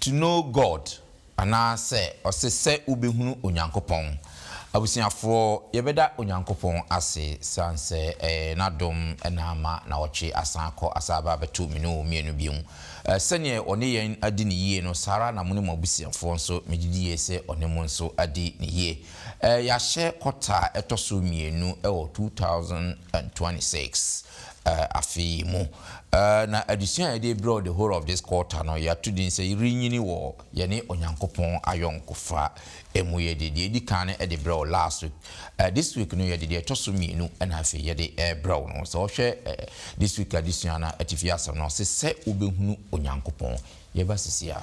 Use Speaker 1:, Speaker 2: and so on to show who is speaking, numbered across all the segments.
Speaker 1: To Know God, anaasɛ ɔse sɛ wobɛhunu Onyankopɔn. Abusuafoɔ, yɛbɛda Onyankopɔn ase siane sɛ ɛyɛ N'adom na ama nawɔtwe asan akɔ asan aba abɛto me ne wo mmienu bio. Sɛdeɛ Ɔne yɛn adi no yie no, saa ara na mo ne mo abusuafoɔ nso, megye die sɛ Ɔne mo nso adi no yie. Yɛahyɛ quarter a ɛtɔ so mmienu wɔ 2026 afe yi mu. Na adesua a yɛde rebrɛ wo the whole of this quarter no, yɛato din sɛ Yɛrenyini wɔ Yɛne Onyankopɔn Ayɔnkofa Mu. Yɛde deɛ ɛdi kan no de brɛɛ wo last week. This week no, yɛde deɛ ɛtɔ so mmienu na afei yɛde rebrɛ wo no. Sɛ wohwɛ this week adesua no atifi asɛm no, ɔse, Sɛ Wobɛhunu Onyankopɔn. Yɛba seesei a.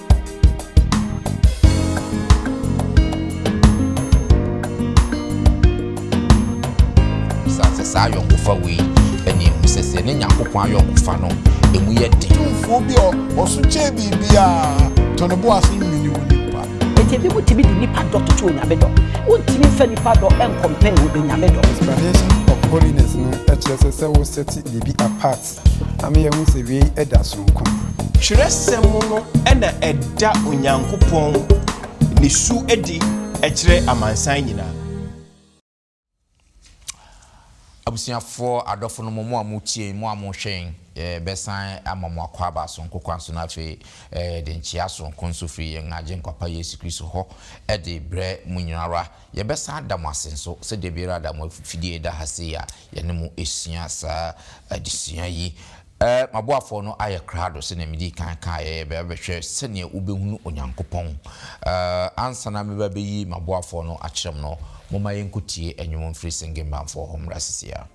Speaker 1: Bisa sɛ saa ayɔnkofa wei na ehu sɛ sɛ ɛne Nyankopɔn ayɔnkofa no, emu yɛ den. Tumfoɔ bi a
Speaker 2: ɔso kyɛn biribiara, tɔ ne bo ase nwene onipa. Enti ebinom tumi
Speaker 3: de nnipa dɔ toto Onyame dɔ. Wontumi mfa nnipa dɔ nkɔmpɛɛ Onyame dɔ. Explanation of
Speaker 4: Holiness no kyerɛ sɛ sɛ wo sɛte biribi apart ama yɛahu sɛ wei da so nko. Twerɛsɛm
Speaker 5: no na ɛda Onyankopɔn ne su adi kyerɛ amansan nyinaa.
Speaker 1: Abusuafoɔ adɔfo no mo, mo a mo tie, mo a mo hwɛ yɛn, yɛ bɛ san ama mo akwaaba sononko kwan so na afei yɛ de nkyea sononko nso firi yɛn Agyenkwa pa Yesu Kristo hɔ de brɛ mo nyina ara. Yɛbɛsan ada mo ase nso sɛ da biara da mo afifidie da ha sei a yɛne mo sua saa adesua yi. M'aboafoɔ no ayɛ krado sɛdeɛ medii kan kaeɛ, yɛbɛba abɛhwɛ sɛdeɛ wobɛhunu Onyankopɔn. Ansa na meba abɛyi m'aboafoɔ no akyerɛ mo no, momma yɛnkɔtie nnwom mfiri Singing Band foɔ hɔ mmra seesei ara.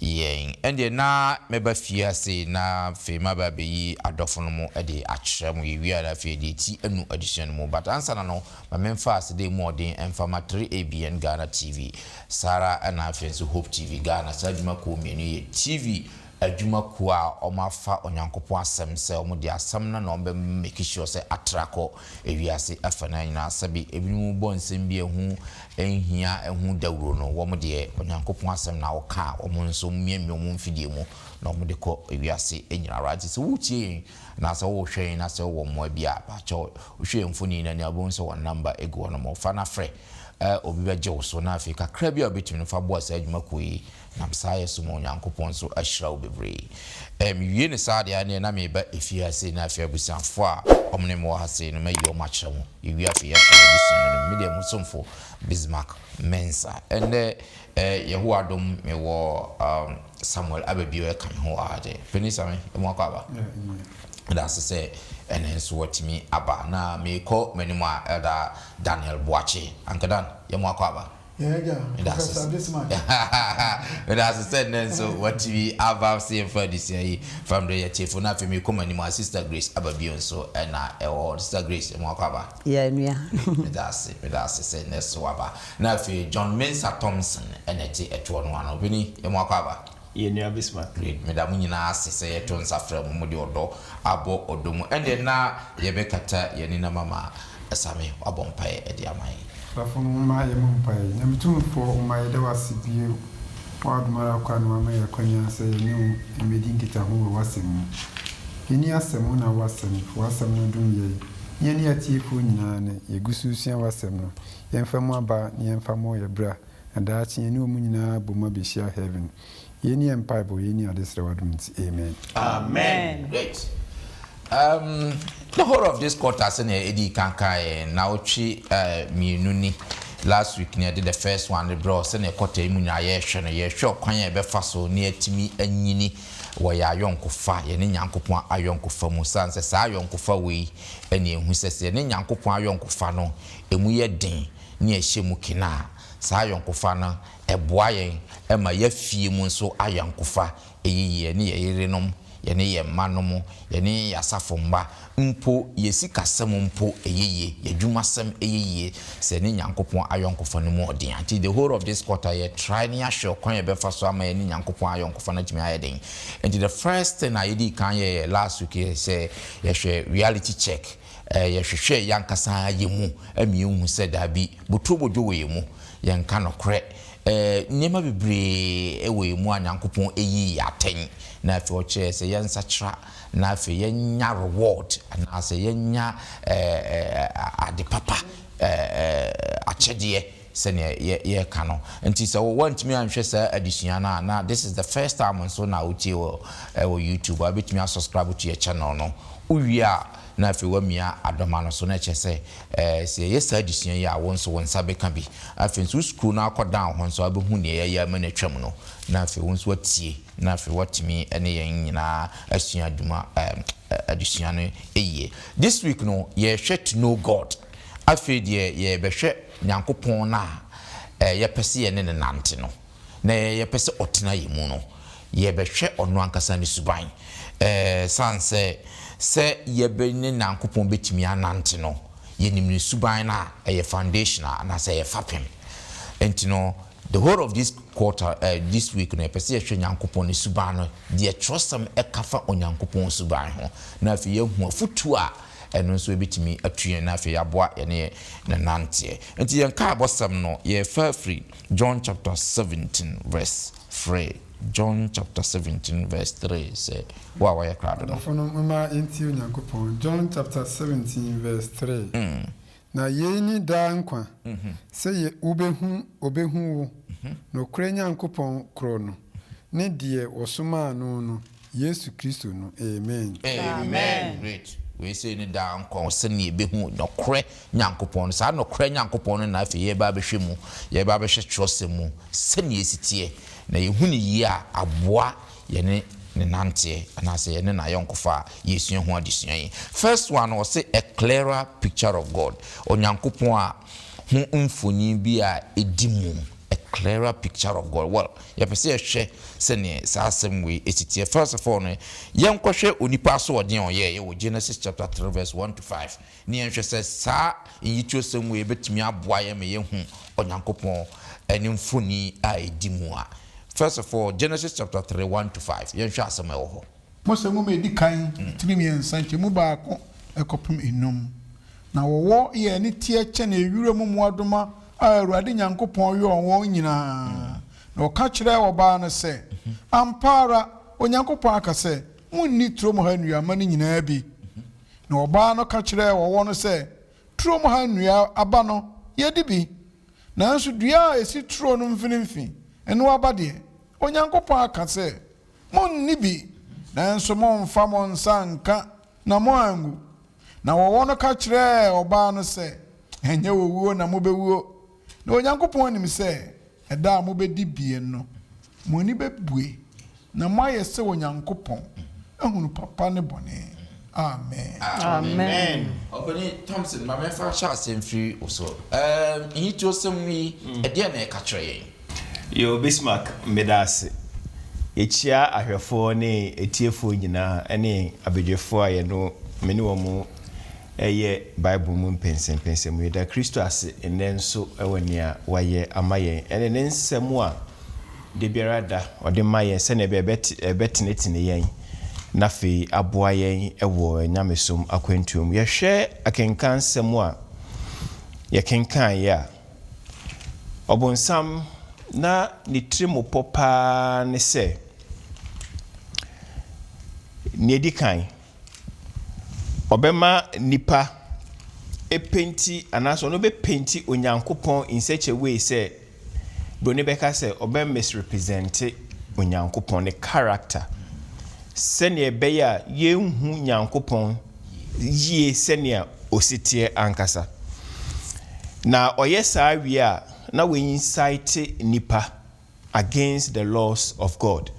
Speaker 1: Yɛn deɛ na mɛba fie ha sei na afei maba abɛyi adɔfo no mo de akyerɛ mo, yɛwie a na afei yɛde ati anu adesua no mu. But ansa na no, ma memfa aseda mu ɔden mfa ma 3ABN Ghana TV, saa ara na afei nso Hope TV Ghana, saa adwuma kuo mmienu yi yɛ TV adwuma kuo a wɔafa Onyankopɔn asɛm sɛ wɔde asɛm no na wɔbɛ make sure sɛ atra kɔ Ewiase afanan nyinaa, sɛbe ebinom bɔ nsɛm bi a ɛho nhia ho dawuro no, wɔn deɛ, Onyankopɔn asɛm na wɔka a wɔn nso miamia wɔn mfidie mu na wɔde kɔ ewiase nyinaa ara. Nti sɛ woretie yɛn anaa sɛ worehwɛ yɛn na sɛ wowɔ mmoa bi a, pakyɛw hwɛ yɛn mfoni no ani a wobɛhu sɛ wɔn namba gu hɔ nom. Fa na frɛ, obi bɛgye wo so. Na afei kakra bi a wobɛtumi no, fa boa saa adwuma kuo yi Nam saa yɛ so mu Onyankopɔn nso ahyira wo bebree. Ɛɛ mewie no saa deɛ ɛneɛ na mereba efie ha sei na afei abusuafoɔ a wɔn ne me wɔ ha sei no mayi wɔn akyerɛ mo. Yɛwie afei yɛahyɛ yɛn abusua no anim. Medeɛ mo somfo Bismarck Mensah. Ɛnnɛ ɛɛ Yehowa adom mewɔ um, Samuel Ababio ɛka me ho aa deɛ. Panin Same, emu akɔ aba? Meda ase sɛ ɛnɛ nso watumi aba. Na merekɔ m'anim a Elder Daniel Boakye. Uncle Dan, yɛmu akɔ aba? Medase sɛ nnɛ nso watumi aba se yɛmfa adesua yi fa mbrɛ yɛ tiefo na afei mekɔ m'anim a Sister Grace aba bio nso na ɛwɔ hɔ Sister Grace ɛmu akɔ aba? Yeah nua.
Speaker 3: Medase
Speaker 1: medase sɛ nnɛ so waba na afei John Mensah Thompson ɛna ɛte ɛtoɔ no ano Ɔpanin ɛmu akɔ aba? Yɛn nua Bismarck.
Speaker 5: Read MeDa mo nyinaa
Speaker 1: ase sɛ yɛto nsa frɛ mo mode ɔdɔ abɔ ɔdɔ mu ɛnde na yɛbɛkata yɛn ani na mama Asame wabɔ mpaeɛ de ama yɛn. Asafo no momma
Speaker 4: yɛmmɔ mpaeɛ. Nyame Tumfoɔ Oma yɛda wo ase bio wɔ w'adom ara kwa na wama yɛn akwanya sɛ yɛne wo mmɛdi nkitaho wɔ w'asɛm mu. Yɛni asɛm, wo na wo asɛm, w'asɛm no dom yɛn ne yɛne atiefoɔ nyinaa nnɛ. Yɛgu so resua w'asɛm no, yɛmfa mu aba na yɛmfa mmɔ yɛn bra. Na daakye yɛne wɔn nyinaa bom abehyia heaven. Yei ne yɛn mpaebɔ, yei ne adesrɛ wɔ adom nti, amen. Amen!
Speaker 1: Great! Um, the whole of this quarter sɛnea edii kan kaa yɛn, nnawɔtwe eh, mmienu ni, last week na yɛde the first one no brɛɛ wo, sɛnea quarter yi mu nyinaa yɛrehwɛ no, yɛrehwɛ ɔkwan a yɛbɛfa so na yɛatumi anyini wɔ yɛn ayɔnkofa, yɛne Nyankopɔn ayɔnkofa mu, esiane sɛ saa ayɔnkofa wei na yɛhu sɛ sɛ yɛne Nyankopɔn ayɔnkofa no, emu yɛ den. ne ɛhyɛ mu kena a, saa ayɔnkofa no boa yɛn ma yɛn fie mu nso ayɔnkofa yɛ yie, yɛne yɛn yerenom, yɛne yɛn mmanom, yɛne yɛn asafo mma mpo, yɛn sikasɛm mpo yɛ yie, yɛn adwumasɛm yɛ yie sɛ yɛne Nyankopɔn ayɔnkofa no mu ɔden a. Nti the whole of this quarter yɛ try na yɛahwɛ ɔkwan a yɛbɛfa so ama yɛne Nyankopɔn ayɔnkofa no atumi ayɛ den. Nti the first thing a yɛdii kan yɛɛ last week yɛ sɛ yɛhwɛ reality check. Yɛhwehwɛ yɛankasa yɛn mu ma yɛhu sɛ dabi, boturo bodwo wɔ yɛn mu. Yɛnka nokorɛ, nneɛma bebree wɔ yɛn mu a Nyankopɔn yii yɛn atɛn, na afei ɔkyerɛɛ sɛ yɛnsakyera, na afei yɛnya reward, anaasɛ yɛnya ade papa, akyɛdeɛ. sɛnea yɛ yɛreka no nti sɛ wo wantumi anhwɛ saa adesua no a na this is the first time nso na wotie wɔ ɛwɔ YouTube a wobɛtumi a subscribe to yɛ channel no wowie a na afei wamia adɔma no so na ɛkyɛ sɛ ɛɛ sɛ yɛyɛ saa adesua yi a wo nso wo nsa bɛka bi afei nso wo scroll no akɔ down hɔ nso wabɛhu nea yɛayɛ ama no atwam no na afei wo nso watie na afei watumi ne yɛn nyinaa asua adwuma ɛɛ adesua no yie this week no yɛhwɛ to know God afei deɛ yɛbɛhwɛ Nyankopɔn no a yɛpɛ sɛ yɛne no nante no, na yɛpɛ sɛ ɔtena yɛn mu no, yɛbɛhwɛ ɔno ankasa ne suban. Esiane sɛ sɛ yɛbɛ ne Nyankopɔn bɛtumi anante no, yɛnim ne suban no a, ɛyɛ foundation a, anaasɛ ɛyɛ fapem. Enti no, the whole of this quarter, this week no, yɛpɛ sɛ yɛhwɛ Nyankopɔn ne suban no, deɛ Twerɛsɛm ka fa Onyankopɔn suban ho, na afei yɛahu afotuo a, ɛno nso ɛbɛtumi atu yɛn na afei aboa yɛne yɛn nananteɛ. Nti yɛn kaa abɔsɛm no yɛfa firi John chapter 17 verse 3, John chapter 17 verse 3 sɛ wo a wayɛ krado no. Adɔfonom mma yɛntie
Speaker 4: Onyankopɔn, John chapter 17 verse 3. Na yei ne daa nkwa, sɛ yɛ wobehu obehu wo, nokorɛ Nyankopɔn korɔ no, ne deɛ wɔsomaa no no, Yesu Kristo no. Amen. Amen. Great.
Speaker 1: Wei sei ne daa nkwa o, sɛdeɛ yɛbehu nokorɛ Nyankopɔn no. Saa nokorɛ Nyankopɔn no na afei yɛreba abɛhwɛ mu, yɛreba abɛhwɛ twerɛsɛm mu sɛdeɛ ɛsi teɛ, na yɛhu no yie a, aboa yɛne no nanteɛ anaasɛ yɛne no ayɔnkofa a, yɛresua ho adesua yi. First one no, ɔse a clearer picture of God, Onyankopɔn a ho mfonin bi a ɛdi mu, a clearer picture of God. Well, yɛpɛ sɛ yɛhwɛ sɛdeɛ saa asɛm wei si teɛ. First of all no, yɛnkɔhwɛ onipa asoɔden a ɔyɛeɛ wɔ Genesis chapter three verse one to five. na yɛnhwɛ sɛ saa nnyitosɛm wei bɛtumi aboa yɛn ma yɛahu Onyankopɔn ne mfoni a ɛdi mu a. First of all, Genesis chapter three, one to five, yɛnhwɛ asɛm a ɛwɔ hɔ. Mose Nwoma a Ɛdi
Speaker 2: Kan, tiri mmiɛnsa, nkyɛmu baako kɔpem nnum. Na wɔwɔ yɛ ani teɛ kyɛn wiram mmoadoma a Awurade Nyankopɔn yɔɔ wɔn nyinaa. Na ɔka kyerɛɛ ɔbaa no sɛ, Ampa ara Onyankopɔn aka sɛ, Monni turom ha nnuaba no nyinaa bi. Na ɔbaa no ka kyerɛɛ ɔwɔ no sɛ, Turom ha nnua aba no, yɛdi bi. Nanso dua a ɛsi turo no mfinimfini, ɛno aba deɛ, Onyankopɔn aka sɛ, 'Monni bi, nanso mommfa mo nsa nnka na moanwu. Na ɔwɔ no ka kyerɛɛ ɔbaa no sɛ, Ɛnyɛ owuo na mobɛwuo. Na Onyankopɔn nim sɛ ɛda a mobɛdi bie no, mo ani bɛbue, na moayɛ sɛ Onyankopɔn, ahunu papa ne bɔne. Amen. Amen. Ɔpanin Thompson,
Speaker 1: ma memfa nhyɛ aseɛ mfiri wo so. Ɛɛm, nhitiosɛm yi, ɛdeɛn na ɛka kyerɛ yɛn? Yoh
Speaker 5: Bismarck, meda ase. Yekyia ahwɛfoɔ ne atiefoɔ nyinaa ne abadwafoɔ a yɛne wɔn, me ne wɔn Ɛyɛ Bible mu mpɛnsɛmpɛnsɛm mu. Yɛda Kristo ase nnɛ nso wɔ nea wayɛ ama yɛn ne ne nsɛm a da biara da ɔde ma yɛn sɛnea ɛbɛyɛ a ɛbɛtenetene yɛn na afei aboa yɛn wɔ yɛn nyamesom akwantuo mu. Yɛhwɛ akenkansɛm a yɛkenkaneeɛ a, Ɔbonsam na ne tirimopɔ paa ne sɛ, nea ɛdi kan, Ɔbɛma nnipa apenti anaasɛ ɔno bɛpenti Onyankopɔn in such a way sɛ Buroni bɛka sɛ ɔbɛ misrepresente Onyankopɔn, ne character, sɛnea ɛbɛyɛ a yɛnhu Nyankopɔn yie sɛnea ɔsi teɛ ankasa. Na ɔyɛ saa wie a, na waincite nnipa Against the laws of God.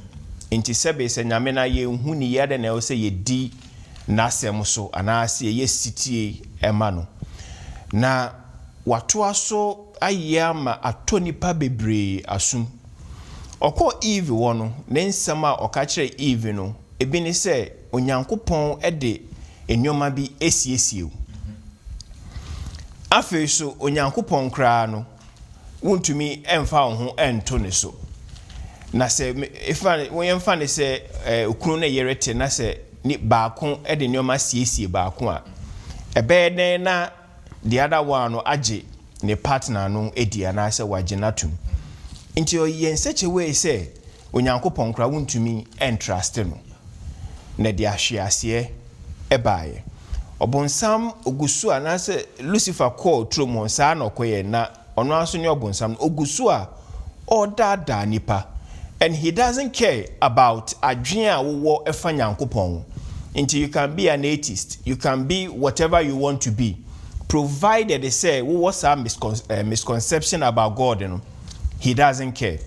Speaker 5: Enti sɛbe sɛ Nyame no a yɛnhu no yi adɛn na ɛwɔ sɛ yɛdi N'asɛm so anaa sɛ yɛyɛ setie ma no? Na watoa so ayɛ ama atɔ nnipa bebree asom. Ɔkɔɔ Eve hɔ no, ne nsɛm a ɔka kyerɛɛ Eve no bi ne sɛ Onyankopɔn de nnoɔma bi asiesie wo. Afei nso Onyankopɔn koraa no, wontumi mfa wɔn ho nto ne so. Na sɛ fa no, yɛmfa no sɛ okunu ne yere te na sɛ baako de nneɛma siesie baako a, ɛbɛyɛ dɛn na the other one no agye ne partner no adi anaasɛ wagye no atom? Nti ɔyɛ nsɛkyɛwee sɛ Onyankopɔn koraa wontumi ntraste no, na de ahweaseɛ baeɛ. Ɔbonsam ɔgu so a, anaasɛ Lucifer kɔɔ turom hɔ, saa na ɔkɔyɛɛ, na ɔno ara nso ne ɔbonsam no, ɔgu so a ɔredaadaa nnipa, and he doesn't care about adwene a wowɔ fa Nyankopɔn ho. Nti you can be an atheist, you can be whatever you want to be, provided sɛ wowɔ saa miscon, eh, misconception about God no, He doesn't care.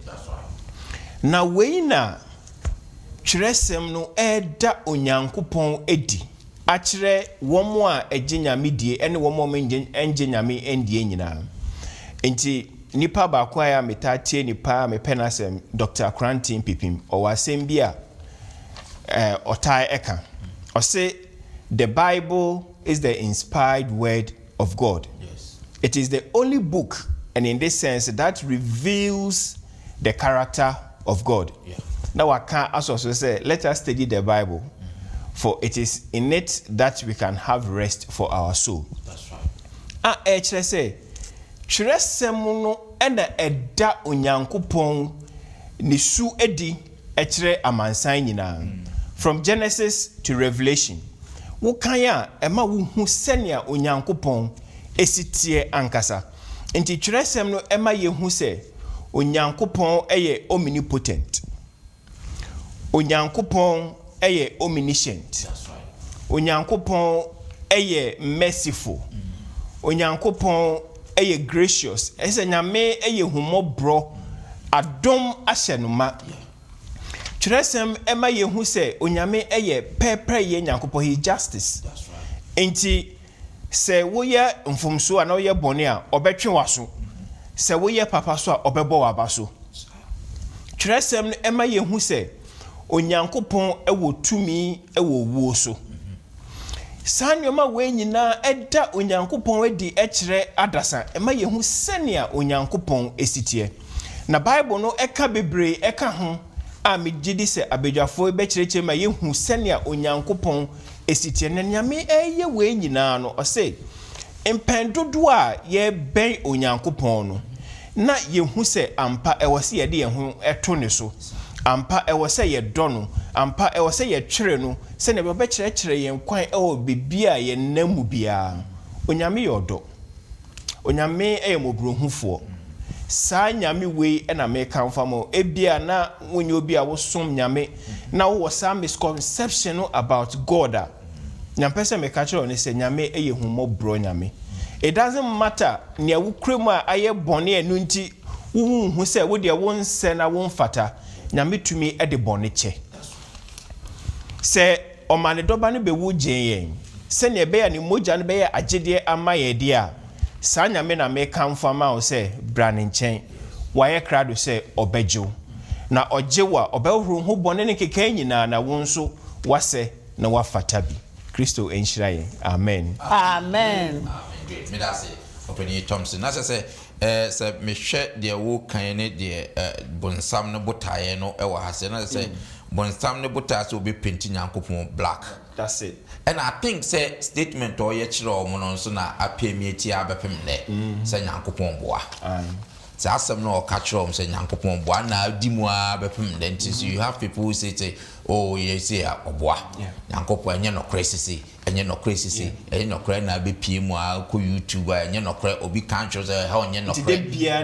Speaker 1: Na wei
Speaker 5: na Twerɛsɛm no reda Onyankopɔn adi akyerɛ wɔn a ɛgye Nyame die ɛne wɔn a wɔnngye Nyame nndie nyinaa. Nti nipa baako a metaa tie no paa a mepɛ n'asɛm Doctor Korankye Mpipim ɔwɔ asɛm bi a ɔtaa ɛka. Ɔse the Bible is the inspired word of God. It is the
Speaker 1: only
Speaker 5: book and in this sense that reveals the character of God. Na waka
Speaker 1: asɔ
Speaker 5: so sɛ let us study the Bible for it is in it that we can have rest for our soul.
Speaker 1: A ɛkyerɛ sɛ
Speaker 5: twerɛsɛm no na ɛda Onyankopɔn ne su adi. ɛkyerɛ amansan nyinaa, From Genesis to Revelation. Wo kan a, ɛma wo hu sɛnea Onyankopɔn si teɛ ankasa. Nti twerɛsɛm no ɛma yɛ hu sɛ Onyankopɔn yɛ omnipotent, Onyankopɔn yɛ omniscient,
Speaker 1: Onyankopɔn
Speaker 5: yɛ merciful, Onyankopɔn yɛ gracious, ɛyɛ sɛ Nyame yɛ ahummɔborɔ, adom ahyɛ no ma. Twerɛsɛm ma yɛhu sɛ Onyame yɛ pɛɛpɛɛyɛ Nyankopɔn, he is justice.
Speaker 1: Enti
Speaker 5: sɛ woyɛ mfomsoɔ anaa woyɛ bɔne a, ɔbɛtwe w'aso, sɛ woyɛ papa so a, ɔbɛbɔ w'aba so. Twerɛsɛm no ma yɛhu sɛ Onyankopɔn wɔ tumi wɔ owuo so. Saa nneɛma wei nyinaa da Onyankopɔn adi kyerɛ adasa, ɛma yɛhu sɛnea Onyankopɔn si teɛ. Na Bible no ka bebree ka ho a megye di sɛ abadwafoɔ yi bɛkyerɛkyerɛ ma yɛahu sɛnea Onyankopɔn si teɛ. Na nea mereyɛ wei nyinaa no, ɔse, Mpɛn dodoɔ a yɛbɛn Onyankopɔn no, na yɛhu sɛ ampa ɛwɔ sɛ yɛde yɛn ho to Ne so, ampa ɛwɔ sɛ yɛdɔ No, ampa ɛwɔ sɛ yɛtwere No sɛdeɛ ɔbɛkyerɛkyerɛ yɛn kwan wɔ baabi a yɛnam mu biara. Onyame yɛ ɔdɔ. Onyame yɛ mmɔborɔhufoɔ. Saa Nyame wei na merekamfo ama wo. Ebia na wonyɛ obi a wosom Nyame na wowɔ saa misconception no about God a, Nea mpɛ sɛ meka kyerɛ wo ne sɛ Nyame yɛ ahummɔborɔ Nyame. It doesn't matter nea wokura mu a ayɛ bɔne a ɛno nti wonhu sɛ wo deɛ wonsɛ na womfata, Nyame tumi de bɔne kyɛ. Sɛ Ɔma Ne Dɔba no bɛwu gyee yɛn sɛnea ɛbɛyɛ a Ne mogya no bɛyɛ agyedeɛ ama yɛn deɛ a, saa Nyame na mekamfo ama wo sɛ bra Ne nkyɛn. Wayɛ krado sɛ Ɔbɛgye wo. Na Ɔgye wo a, Ɔbɛhohoro wo ho bɔne ne nkekaeɛ nyinaa na wo nso woasɛ. na wafata bi. Kristo nhyira yɛn. Amen. Amen.
Speaker 3: Amen. Great. Meda ase,
Speaker 1: Ɔpanin Thompson. Na kyerɛ sɛ, eh, sɛ mehwɛ deɛ wokan ne deɛ, eh, bonsam no botaeɛ no wɔ ha sɛ, na kyerɛ sɛ bonsam no botaeɛ sɛ ɔbɛpenti Nyankopɔn black. That's it. Ɛna
Speaker 5: I think sɛ
Speaker 1: statement a ɔyɛ kyerɛɛ wɔn no nso na apem yɛ ti ara bɛpem nnɛ sɛ Nyankopɔn boa. Aye. Sɛ asɛm no a ɔka kyerɛ wɔn sɛ Nyankopɔn boa na adi mu ara bɛpem nnɛ nti nso you have people who say sɛ oh yɛ sei a ɔboa. Nyankopɔn ɛnyɛ nɔkorɛ sesei, ɛnyɛ nɔkorɛ sesei, ɛnyɛ nɔkorɛ ɛna abɛpue mu ara wokɔ YouTube a ɛnyɛ nɔkorɛ obi ka nkyerɛ wo sɛ ɛha ɔnyɛ nɔkorɛ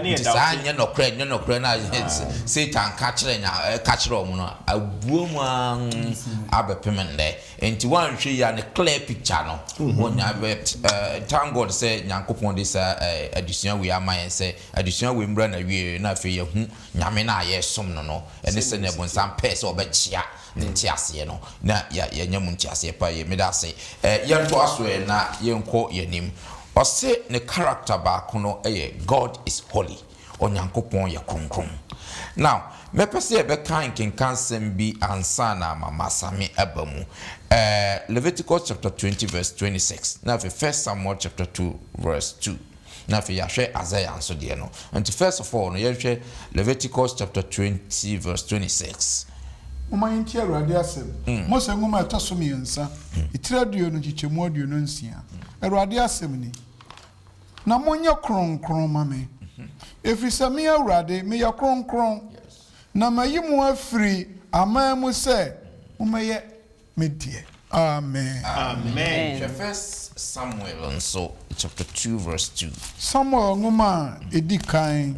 Speaker 1: nti saa ɛnyɛ nɔkorɛ ɛnyɛ nɔkorɛ no a Satan ka kyerɛ Nya ɛka kyerɛ wɔn no abua mu ara abɛpem nnɛ. Nti woanhwɛ yie a ne clear picture no wonya but thank God sɛ Nyankopɔn de saa adesua wei ama yɛn sɛ adesua wei mmra n'awieɛ na afei yɛahu Nyame no a yɛresom no no ne sɛdeɛ bonsam pɛɛ sɛ ɔbɛkyea ne nteaseɛ no na yɛanya mu nteaseɛ pa yie. Meda ase. Yɛntoa so ɛ na yɛnkɔ yɛn anim. Ɔse ne character baako no yɛ God is holy. Onyankopɔn yɛ kronkron. Now, mɛpɛ sɛ yɛbɛka nkenkansɛm bi ansa na ma m'asame aba mu. Ɛɛ, Leviticus chapter twenty verse twenty six, na afei First Samuel chapter two verse two, na afei yɛahwɛ Isaiah nso deɛ no. Nti first of all no, yɛnhwɛ Leviticus chapter twenty verse twenty six. Momma yɛntie
Speaker 2: Awurade asɛm. Mose nwoma a ɛtɔ so mmiɛnsa, etiri aduonu, nkyekyɛmu aduonu nsia. Awurade asɛm ni. na monyɛ kronkron mma me, ɛfiri sɛ me Awurade meyɛ kronkron, na mayi mo afiri aman mu sɛ mommɛyɛ me deɛ. Amen.
Speaker 1: Samuel nwoma
Speaker 2: a ɛdi kan,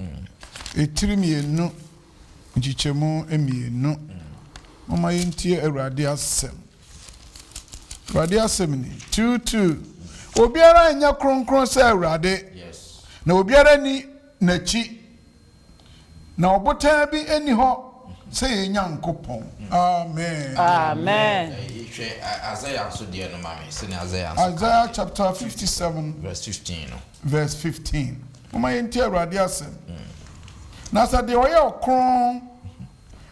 Speaker 2: etiri mmienu, nkyekyɛmu mmienu. Momma yɛntie Awurade asɛm. Awurade asɛm ni, tuutuu, Obiara nyɛ kronkron sɛ Awurade, na
Speaker 1: obiara nni
Speaker 2: n'akyi, na ɔbotan bi nni hɔ sɛ yɛn Nyankopɔn. Amen.
Speaker 1: Isaiah
Speaker 2: chapter 57 verse 15 no.
Speaker 1: Verse
Speaker 2: 15. Momma yɛntie Awurade asɛm. Na sɛ deɛ ɔyɛ ɔkron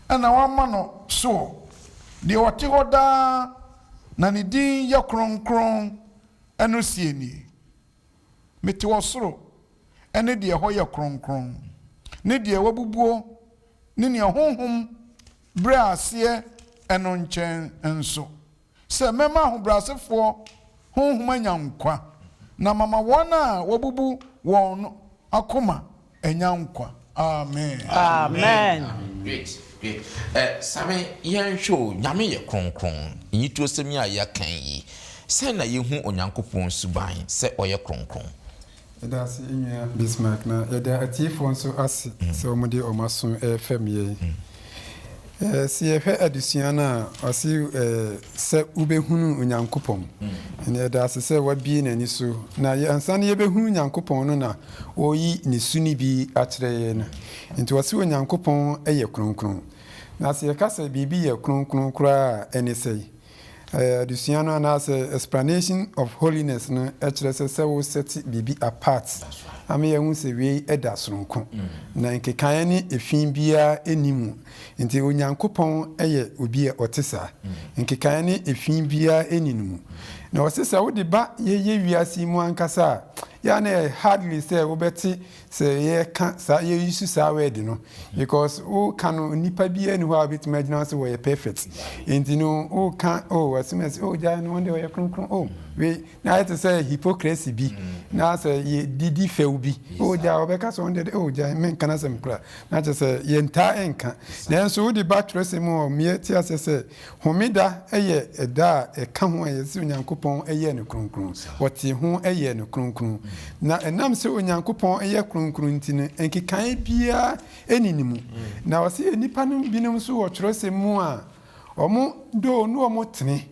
Speaker 2: na wɔama no soɔ, deɛ ɔte hɔ daa na ne din yɛ kronkron no seɛ nie, Mete ɔsoro ne deɛ ɛhɔ yɛ kronkron, ne deɛ wɔabubuo ne nea honhom brɛɛ aseɛ no nkyɛn nso, sɛ mɛma ahobrɛasefoɔ honhom anya nkwa, na mama wɔn a wɔabubu wɔn no akoma anya nkwa. Amen. Amen. Amen. Amen.
Speaker 3: Great. Great.
Speaker 1: Ɛ, sane yɛnhwɛ o, Nyame yɛ kronkron. Nnyitosɛm yi a yɛaka yi, sɛn na yɛhu Onyankopɔn suban sɛ ɔyɛ kronkron? Yɛda ase
Speaker 4: Nua Bismarck, na yɛda atiefoɔ nso ase sɛ wɔde wɔn aso refɛm yɛn. Sɛ yɛhwɛ adesua no a, ɔse sɛ wobɛhunu Onyankopɔn. Ɛnna yɛda ase sɛ wabie n'ani so, na ansa na yɛbɛhunu Nyankopɔn no na ɔreyi ne su no bi akyerɛ yɛn. Nti ɔse Onyankopɔn yɛ kronkron. Na sɛ yɛka sɛ biribi yɛ kronkron koraa a, ɛne sɛn? Adesua no anaasɛ Explanation of Holiness no kyerɛ sɛ sɛ wo sɛte biribi apart ama yɛahu sɛ wei da soronko na nkekaeɛ ne efi biara nni mu. Nti Onyankopɔn yɛ obi a ɔte saa. Nkekaeɛ ne efi biara nni ne mu. Na ɔse sɛ wode ba yɛyɛ wiase yi mu ankasa a, yɛ a na ɛyɛ hardly sɛ wobɛte Sɛ yɛka saa yɛ use saa word no because woka no nipa biara ni hɔ a obetumi agyina sɛ wɔyɛ perfect nti no woka o oh, assume sɛ oh gyae no wɔn ɔyɛ kronkron oh wei na ayɛ te sɛ hypocrisy bi na sɛ yɛ didi fɛw bi oh gyae wɔbɛka sɛ wɔn deɛ oh gyae menka no asɛm kora na kyerɛ sɛ yɛntaa nka nanso wode ba twerɛsɛm mu a meɛ te aseɛ sɛ Homeda yɛ ɛda a ɛka ho a yɛse Onyankopɔn yɛɛ no kronkron. Wɔtee ho yɛɛ no kronkron. Na ɛnam sɛ Onyankopɔn yɛ kronkron nti no, nkekaeɛ biara nni ne mu. Na ɔse nnipa no binom nso wɔ twerɛsɛm mu a wɔdɔ na wɔtene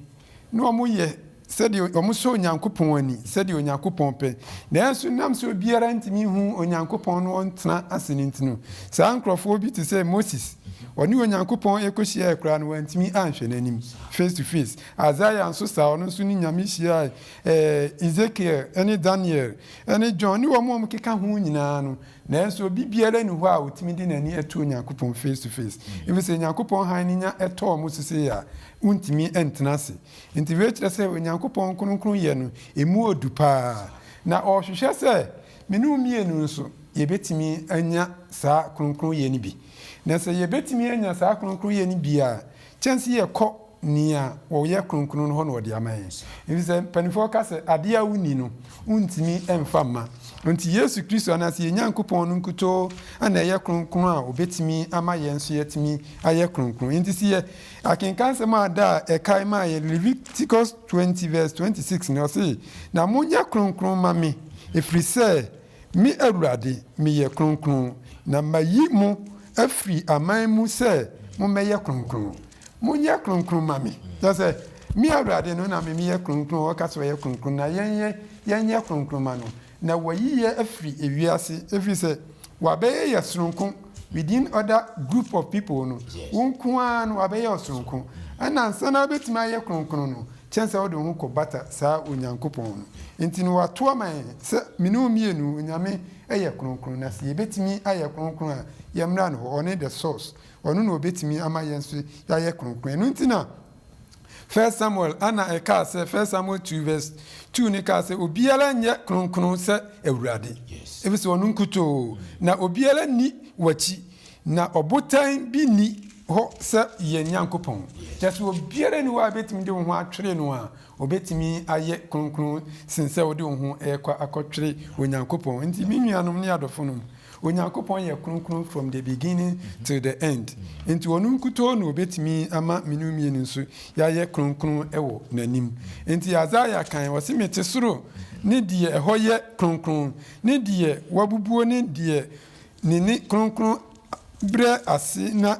Speaker 4: na wɔyɛ. sɛdeɛ wɔsɔ Onyankopɔn ani, sɛdeɛ Onyankopɔn pɛ, nanso nam sɛ obiara ntumi nhu Onyankopɔn na ɔntena ase no nti no, saa nkorɔfoɔ bi te sɛ Moses, ɔne Onyankopɔn kɔhyiaae koraa no, wantumi anhwɛ n'anim, face to face. Isaiah nso saa, ɔno nso ne Nyame hyiaae, ɛɛ, Ezekiel ne Daniel ne John ne wɔn a wɔkeka ho nyinaa no, nanso obi biara nni hɔ a ɔtumi de n'ani to Onyankopɔn face to face, ɛfiri sɛ Onyankopɔn hann no nya tɔ wɔn so sei a, wontumi ntena ase. Enti wei kyerɛ sɛ Onyankopɔn kronkronyɛ no mu odu paa, na ɔhwehwɛ sɛ me ne wo mmienu nso yɛbɛtumi anya saa kronkronyɛ no bi. Na sɛ yɛbɛtumi anya saa kronkronyɛ no bi a, kyɛn sɛ yɛkɔ nea ɔyɛ kronkron no hɔ na ɔde ama yɛn. Ɛfiri sɛ mpanimfoɔ ka sɛ, adeɛ a wonni no, wontumi mfa mma. Enti Yesu Kristo anaasɛ yɛn Nyankopɔn no nkutoo na ɛyɛ kronkron a ɔbɛtumi ama yɛn nso yɛatumi ayɛ kronkron. Enti sɛ Akenkan nsɛm a da a ɛkae maa yɛn Leviticus twenty verse twenty six no, ɔse, Na monyɛ kronkron ma me, ɛfiri sɛ me Awurade meyɛ kronkron, na mayi mo afiri aman mu sɛ mommɛyɛ kronkron. Monyɛ kronkron ma me. Kyerɛ sɛ, me Awurade no na me meyɛ kronkron, ɔka sɛ ɔyɛ kronkron, na yɛn yɛnyɛ kronkron ma no. Na wɔayi yɛ afiri ewiase, ɛfiri sɛ wɔabɛyɛ yɛ sononko, within other group of people no, wo nko ara no wɔabɛyɛ wo sononko. Ɛna ansa na wobɛtumi ayɛ kronkron no, kyɛn sɛ wode wo ho kɔbata saa Onyankopɔn no. Enti no wɔato ama yɛn sɛ me ne wo mmienu, Onyame yɛ kronkron, na sɛ yɛbɛtumi ayɛ kronkron a, yɛmmra ne hɔ, ɔne the source, ɔno na ɔbɛtumi ama yɛn nso yɛayɛ kronkron. Ɛno nti na. First Samuel a na ɛkaa sɛ First Samuel two verse two no kaa sɛ obiara nyɛ kronkron sɛ Awurade, efisɛ ɔno nkutoo, na obiara nni w'akyi, na ɔbotan bi nni hɔ sɛ yɛn Nyankopɔn, kyerɛ sɛ obiara nni hɔ a ebetumi de wo ho atwere no a Wobɛtumi ayɛ kronkron sen sɛ wode wo ho rekɔ akɔtwere Onyankopɔn. Nti me nuanom ne adɔfonom, Onyankopɔn yɛ kronkron from the beginning till the end. Nti ɔno nkutoo na ɔbɛtumi ama me ne wo mmienu nso yɛayɛ kronkron wɔ n'anim. Nti Isaiah kae, ɔse mete soro ne deɛ ɛhɔ yɛ kronkron, ne deɛ wabubuo ne deɛ ne ne kronkron brɛ ase na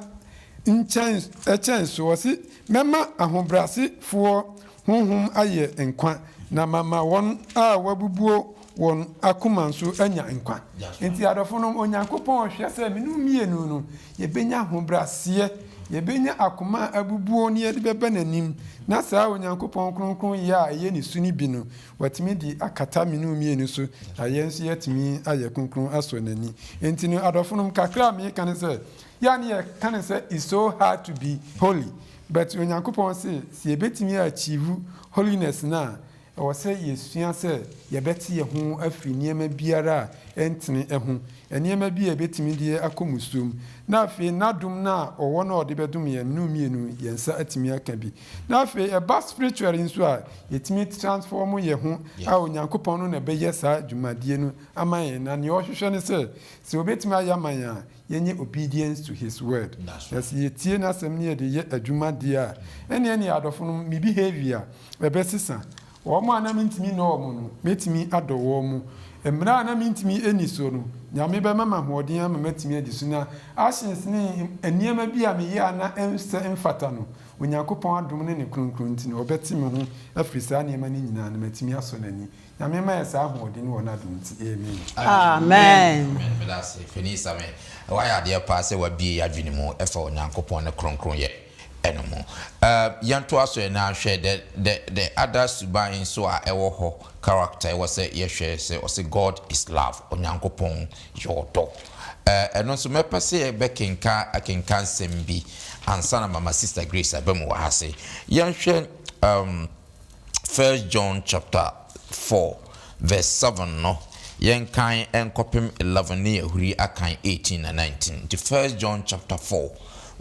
Speaker 4: nkyɛn ɛkyɛn so, ɔse, Mɛma ahobrɛase foɔ honhom ayɛ nkwa, na mama wɔn a wɔabubuo wɔn akoma nso anya nkwa. Nti adɔfonom, Onyankopɔn hwɛ sɛ me ne wo mmienu no, yɛbɛnya ahobrɛaseɛ, yɛbɛnya akoma a abubuo na yɛde bɛba n'anim, na saa Onyankopɔn kronkronyɛ a ɛyɛ ne su no bi no, Watumi de akata me ne wo mmienu so, na yɛn nso yɛatumi ayɛ kronkron asɔ n'ani. Enti no, adɔfonom, kakra a meka no sɛ, yɛ a na yɛka no sɛ it's so hard to be holy, but Onyankopɔn se sɛ yɛbɛtumi a achieve holiness no a, ɛwɔ sɛ yɛsua sɛ yɛbɛte yɛn ho afiri nneɛma biara a ɛntene ho, nneɛma bi a ɛbɛtumi de yɛn akɔ mmusuom. Na afei, n'adom no a ɔwɔ no a ɔde bɛdom yɛn, me ne wo mmienu, yɛn nsa atumi aka bi. Na afei ɛba spiritually nso a, yɛtumi transform yɛn ho a Onyankopɔn no na ɛbɛyɛ saa dwumadie no ama yɛn. Na nea ɔhwehwɛ ne sɛ, sɛ ɔbɛtumi ayɛ ama yɛn a, yɛnyɛ obedience to his word. Na sɛ yɛtie n'asɛm na yɛde yɛ adwuma deɛ a, ɛnneɛ ne adɔfo no, me behavior ɛbɛsesa. Wɔn a na mentumi nnɔ wɔn no, mɛtumi adɔ wɔn. Mmara a na mentumi nni so no, Nyame bɛma me ahoɔden ama matumi adi so. Na actions ne nneɛma bi a meyɛ a na ɛnsɛ, ɛmfata no, Onyankopɔn adom ne ne kronkron nti no, ɔbɛte me ho afiri saa nneɛma no nyinaa na matumi asɔ n'ani. Nyame ma yɛ saa ahoɔden wɔ n'adom nti. Amen. Amen.
Speaker 3: Amen. Meda ase,
Speaker 1: Panin Sammy. Woayɛ adeɛ paa sɛ woabue yɛn adwene mu fa Onyankopɔn ne kronkronyɛ no ho. Yɛntoa so na yɛahwɛ the, the, the other suban nso a ɛwɔ hɔ, character, ɛwɔ sɛ yɛhwɛ sɛ ɔse God is love, Onyankopɔn Yɛ ɔdɔ. Ɛɛ, ɛno nso mɛpɛ sɛ yɛbɛkenka akenkansɛm bi ansa na mama Sista Grace aba mu wɔ ha ase. Yɛnhwɛ ɛɛm, First John chapter four verse seven no, yɛnkan nkɔpem eleven ne yɛahuri akan eighteen na nineteen. Nti First John chapter four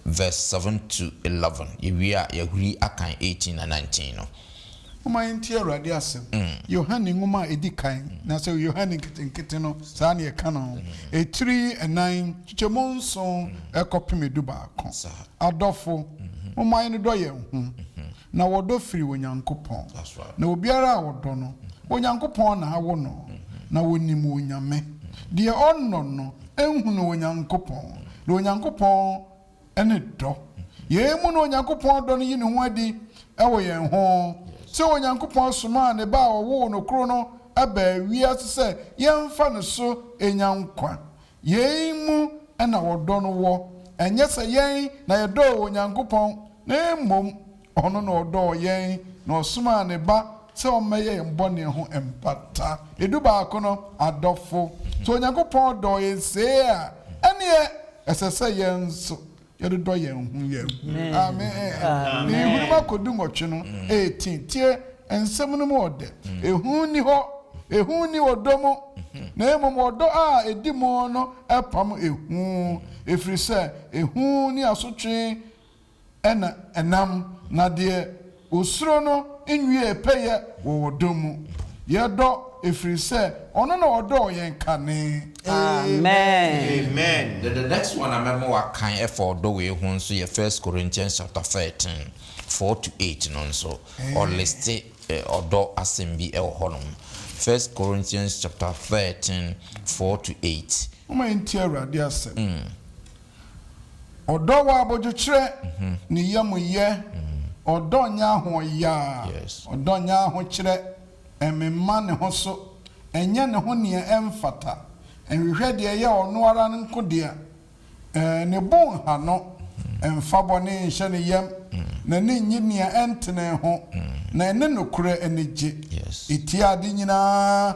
Speaker 1: verse seven to eleven, yɛwie a yɛahuri akan eighteen na nineteen no. Momma yɛntie
Speaker 2: Awurade asɛm. Yohane nwoma a ɛdi kan, anaasɛ Yohane Nketenkete no, saa na yɛka no, etiri nnan, nkyekyɛmu nson kɔpem edubaako. Adɔfo, momma yɛnnodɔ yɛn ho, na wɔdɔ firi Onyankopɔn. Na obiara a ɔdɔ no, Onyankopɔn na awo no, na ɔnim Onyame. Deɛ ɔnnɔ no, nnhunuu Onyankopɔn, na Onyankopɔn ne dɔ. Yei mu na Onyankopɔn dɔ no yi ne ho adi wɔ yɛn ho, sɛ Onyankopɔn somaa ne Ba a ɔwoo no koro no baa wiase sɛ yɛmfa no so nya nkwa. Yei mu na ɔdɔ no wɔ, ɛnyɛ sɛ yɛn na yɛdɔɔ Onyankopɔn na mmom Ɔno na ɔdɔɔ yɛn na ɔsomaa ne Ba sɛ ɔmmɛyɛ yɛn bɔne ho mpata. Du baako no, Adɔfo, sɛ Onyankopɔn dɔɔ yɛn see a, ɛnneɛ ɛsɛ sɛ yɛn nso yɛdodɔ yɛn ho yɛn ho. Amen. Ne nhunumu akɔ du nwɔtwe no, eighteen. Tie nsɛm no mu ɔdɛ. Ehu nni hɔ. Ehu nni ɔdɔ mu, na mmom ɔdɔ a edi mu no pam ehu, ɛfiri sɛ ehu ne asotwe na ɛnam, na deɛ ɔsuro no nwiee pɛyɛ wɔ ɔdɔ mu. Yɛdɔ ɛfiri sɛ ɔno na ɔdɔɔ yɛn kane. Amen. Amen
Speaker 3: then the next one a mɛma
Speaker 1: wakan ɛfa ɔdɔ wei ho nso yɛ first Corinthians chapter thirteen four to eight no nso ɔ liste ɔdɔ asɛm bi ɛwɔ hɔ nom first Corinthians chapter thirteen four to eight. Momma yɛntie Awurade
Speaker 2: asɛm. Ɔdɔ wɔ abodwokyerɛ ne yamyɛ, ɔdɔ nyɛ ahoɔyaa, ɔdɔ nyɛ ahokyerɛ, ɛmemma ne ho so, ɛnyɛ ne ho nea ɛmfata, ɛnhwehwɛ deɛ ɛyɛ ɔno ara nko dea, ne bo nha no, ɛmfa bɔne nhyɛ ne yam, n'ani nnye nea ɛntene ho, na ɛne nokorɛ ani gye, ɛtia ade nyinaa.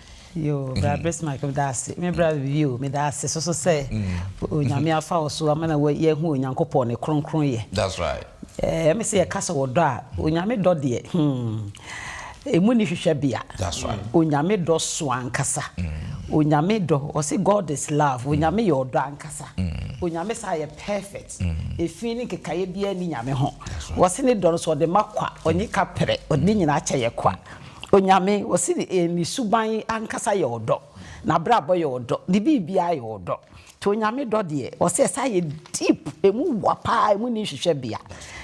Speaker 1: Yoo bra mm.
Speaker 3: Bismarck meda ase me bra bibi o meda ase soso sɛ mm. onyame afa wo so ama na yɛhu onyankopɔn ne kronkron yɛ that's right
Speaker 1: ɛɛ me sɛ yɛka
Speaker 3: sɛ wɔdɔ a onyame dɔ deɛ hmm emu ni hwehwɛ bea that's right onyame
Speaker 1: dɔ so
Speaker 3: ankasa mm. onyame dɔ ɔsi god is love onyame yɛ ɔdɔ ankasa onyame saa yɛ perfect efi ne nkekaeɛ biara ni nyame ho wɔsi ne dɔ no so ɔde ma kwa ɔnye kapere ɔde nyinaa kyɛ yɛ kwa. Onyame, wɔse ne suban ankasa yɛ ɔdɔ, n'abrabɔ yɛ ɔdɔ, ne biribiara yɛ ɔdɔ. Nti Onyame dɔ deɛ, wɔse ɛsan yɛ deep, ɛmu wa paa, ɛmu nni nhwehwɛbea.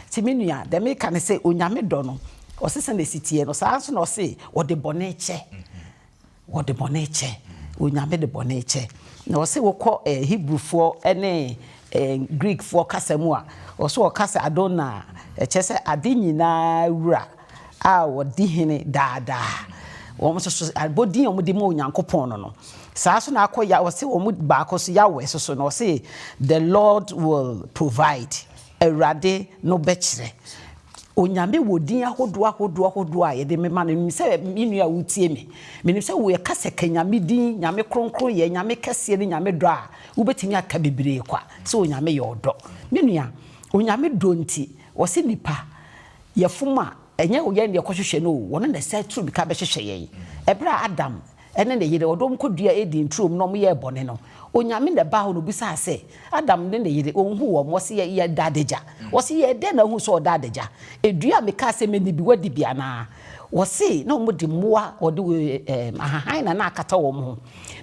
Speaker 3: Nti me nua, deɛ meka ne sɛ, Onyame dɔ no, wɔse sɛdeɛ ɛsi teɛ no, saa ara nso na wɔse ɔde bɔne kyɛ. Wɔde bɔne kyɛ. Onyame de bɔne kyɛ. Na ɔse wokɔ Hebrifoɔ ne Greekfoɔ kasa mu a, ɔse wɔka sɛ Adonai a, ɛkyerɛ sɛ ade nyinaa wura a ɔdi hene daa daa. Wɔn nso so, abɔdin a wɔde ma Onyankopɔn no no, saa nso na akɔ Yah, ɔse wɔn baako nso Yahweh nso so no, ɔse the Lord will provide. Awurade no bɛkyerɛ. Onyame wɔ din ahodoɔ ahodoɔ ahodoɔ a yɛde mema no. Menim sɛ me nua a wotie me, menim sɛ wo yɛka sɛ ka Nyame din, Nyame kronkroyɛ, Nyame kɛseɛ ne Nyame dɔ a, wobɛtumi aka bebree kwa sɛ Onyame yɛ ɔdɔ. Me nua, Onyame dɔ nti, ɔse nnipa yɛfom a, ɛnyɛ yɛn na yɛkɔhwehwɛ no o, ɔno na ɛsɛ tu mirika bɛhwehwɛ yɛn. Ɛberɛ a Adam ɛne ne yere, ɔde wɔn kɔduaa Eden turom na wɔyɛɛ bɔne no, Onyame na ɛbaa hɔ na ɔbisaa sɛ, Adam ne ne yere, wɔnhuu wɔn? Wɔse, Yɛ, yɛda adagya. Wɔse, Yɛɛ dɛn na wohuu sɛ wɔda adagya? Dua a mekaa sɛ menni bi, woadi bi anaa? Wɔse, Na wɔde mmoa a wɔde ɛɛm, ahahan na na akata wɔn ho.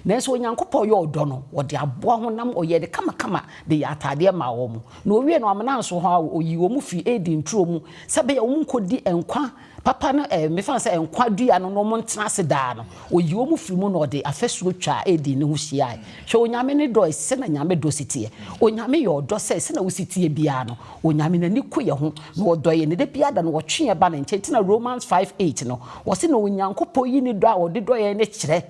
Speaker 3: Nanso Onyankopɔn yɛ ɔdɔ no, ɔde aboa honam, ɔyɛɛ no kamakama de yɛɛ ataadeɛ maa wɔn. Na ɔwiee no, wamena nso hɔ ara o, ɔyii wɔn firii Eden turo mu sɛ ɛbɛyɛ a wɔnkɔdi nkwa Papa no ɛ, mefa no sɛ nkwa dua no na wɔntena ase daa no, ɔyi wɔn firi mu na ɔde afasuo twaa Eden no ho hyiaeɛ. Hwɛ, Onyame no dɔ ɛ, sɛdeɛ Nyame dɔ si teɛ. Onyame yɛ ɔdɔ sɛ, sɛdeɛ wo si teɛ biara no, Onyame n'ani ku yɛ ho, na ɔdɔ yɛ, na da biara da no ɔtwe yɛ ba ne nkyɛn, nti na Romans five eight no, ɔse na Onyankopɔn yi ne dɔ a ɔde dɔ yɛn no kyerɛ,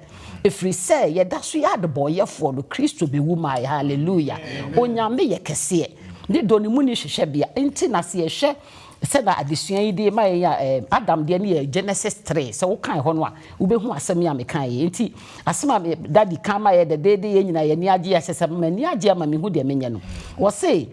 Speaker 3: ɛfiri sɛ yɛda so yɛ adebɔnyɛfoɔ no, Kristo bɛwu maa yɛn. Hallelujah! Onyame yɛ kɛseɛ. Ne dɔ no mu nni hwehwɛbea, nti na sɛ yɛhwɛ. Sɛnea adesua yi de ma yɛn a, ɛɛ, Adam deɛ no yɛ Genesis three. Sɛ wokan ɛhɔ no a, wobɛhu asɛm yi a mekaeɛ yi. Enti, asɛm a me Daddy ka ma yɛn dɛdɛɛdɛ, yɛn nyinaa yɛn ani agye, ɛsɛ sɛ m'ani agye ama mehu deɛ menyɛ no. Ɔse,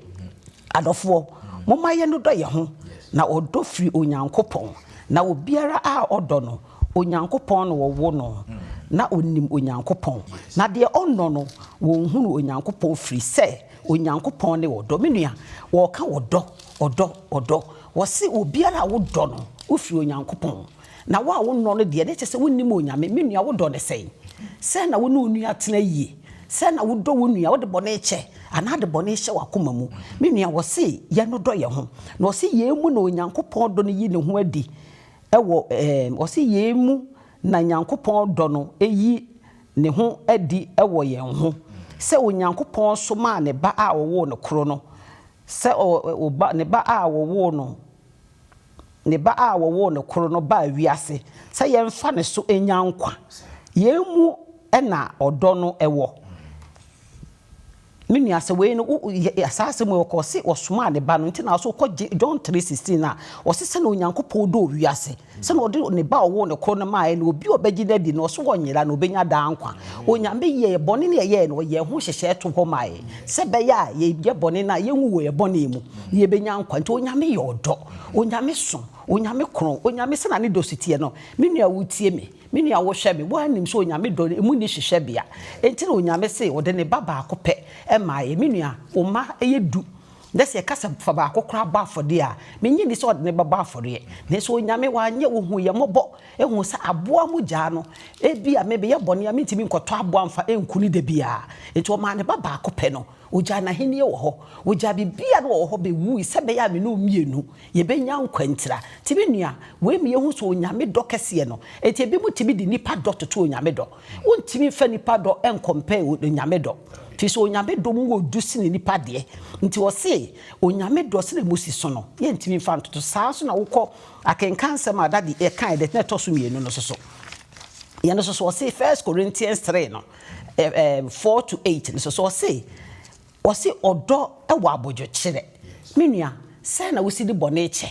Speaker 3: Adɔfoɔ, momma yɛnnodɔ yɛn ho, na ɔdɔ firi Onyankopɔn, na obiara a ɔdɔ no, Onyankopɔn na ɔwo no, na ɔnim Onyankopɔn, na deɛ ɔnnɔ no, wɔnhunu Onyankopɔn firi sɛ, Onyankopɔn ne ɔdɔ. Me nua, wɔka ɔdɔ, ɔdɔ, ɔdɔ. Wɔse obiara a wodɔ no, wofiri Onyankopɔn. Na wo a wonnɔ no deɛ, na ɛkyerɛ sɛ wonnim Onyame. Me nua, wodɔ no sɛn? Sɛn na wo ne wo nua tena yie? Sɛn na wodɔ wo nua? Wode bɔne kyɛ anaa de bɔne hyɛ w'akoma mu? Me nua, wɔse yɛnnodɔ yɛn ho. Na wɔse yei mu na Onyankopɔn dɔ no yi ne ho adi wɔ, ɛɛm, wɔse yei mu Na Nyankopɔn dɔ no yi ne ho adi wɔ yɛn ho, sɛ Onyankopɔn somaa ne Ba a ɔwoo no koro no, sɛ ɔ, ɔ, ba, ne Ba a wɔwoo no, ne Ba a wɔwoo no koro no baa wiase sɛ yɛmfa ne so nya nkwa. Yei mu na ɔdɔ no wɔ. Me nua sɛ wei no wo yɛ saa asɛm wei ɔkɔ ɔse ɔsomaa ne ba no nti na ɔso ɔkɔ gye John three sixteen a ɔse sɛnea Onyankopɔn dɔɔ wiase sɛnea ɔde ne ba ɔwoo no koro no maaɛ na obi a ɔbɛgye no adi no ɔso ɔnyera na ɔbɛnya daa nkwa Onyame yɛɛ bɔne no ɛyɛɛ no ɔyɛɛ ho nhyehyɛɛ to hɔ maaɛ sɛ ɛbɛyɛ a yɛyɛ bɔne no a yɛnwu wɔ yɛ bɔne mu na yɛbɛnya nkwa nti Onyame yɛ ɔdɔ Onyame so Onyame kron Onyame sɛnea ne dɔ so teɛ no me nua wotie me. Me nua, wohwɛ me, woaa nim sɛ Onyame dɔ no, emu nni hyehyɛbea. Enti na Onyame se ɔde ne Ba baako pɛ maa yɛn. Me nua, wo mma yɛ du, na sɛ yɛka sɛ fa baako koraa bɔ afɔdeɛ a, me nnye nni sɛ ɔde ne Ba bɔ afɔreɛ. Nanso Onyame, wanyɛ, ohuu yɛn mmɔbɔ, huu sɛ aboa mo gyaa no. Ebia me, meyɛ bɔne a mentumi nkɔtɔ aboa mfa nku no da biara. Enti ɔmaa ne Ba baako pɛ no. Ogyaa n'ahenni wɔ hɔ, ogyaa biribiara a na ɔwɔ hɔ bewui sɛ ɛbɛyɛ a me ne wo mmienu yebenya nkwa ntira. Te me nua, wei ma yehu sɛ Onyame dɔ kɛseɛ no. Enti ebinom tumi de nnipa dɔ toto Onyame dɔ. Wontumi mfa nnipa dɔ nkɔmpɛɛ Onyame dɔ, firi sɛ Onyame dɔ mu wɔ du sene nnipa deɛ. Nti ɔse Onyame dɔ sɛdeɛ mosi so no, yɛntumi mfa ntoto. Saa nso na wokɔ akenkan nsɛm a Dadi kaeɛ edition a ɛtɔ so mmienu no nso so. Yɛn nso so ɔse First Corinthians three no. four to eight no so so ɔse ɔse ɔdɔ wɔ abodwokyerɛ me nua sɛn na wosi de bɔne kyɛ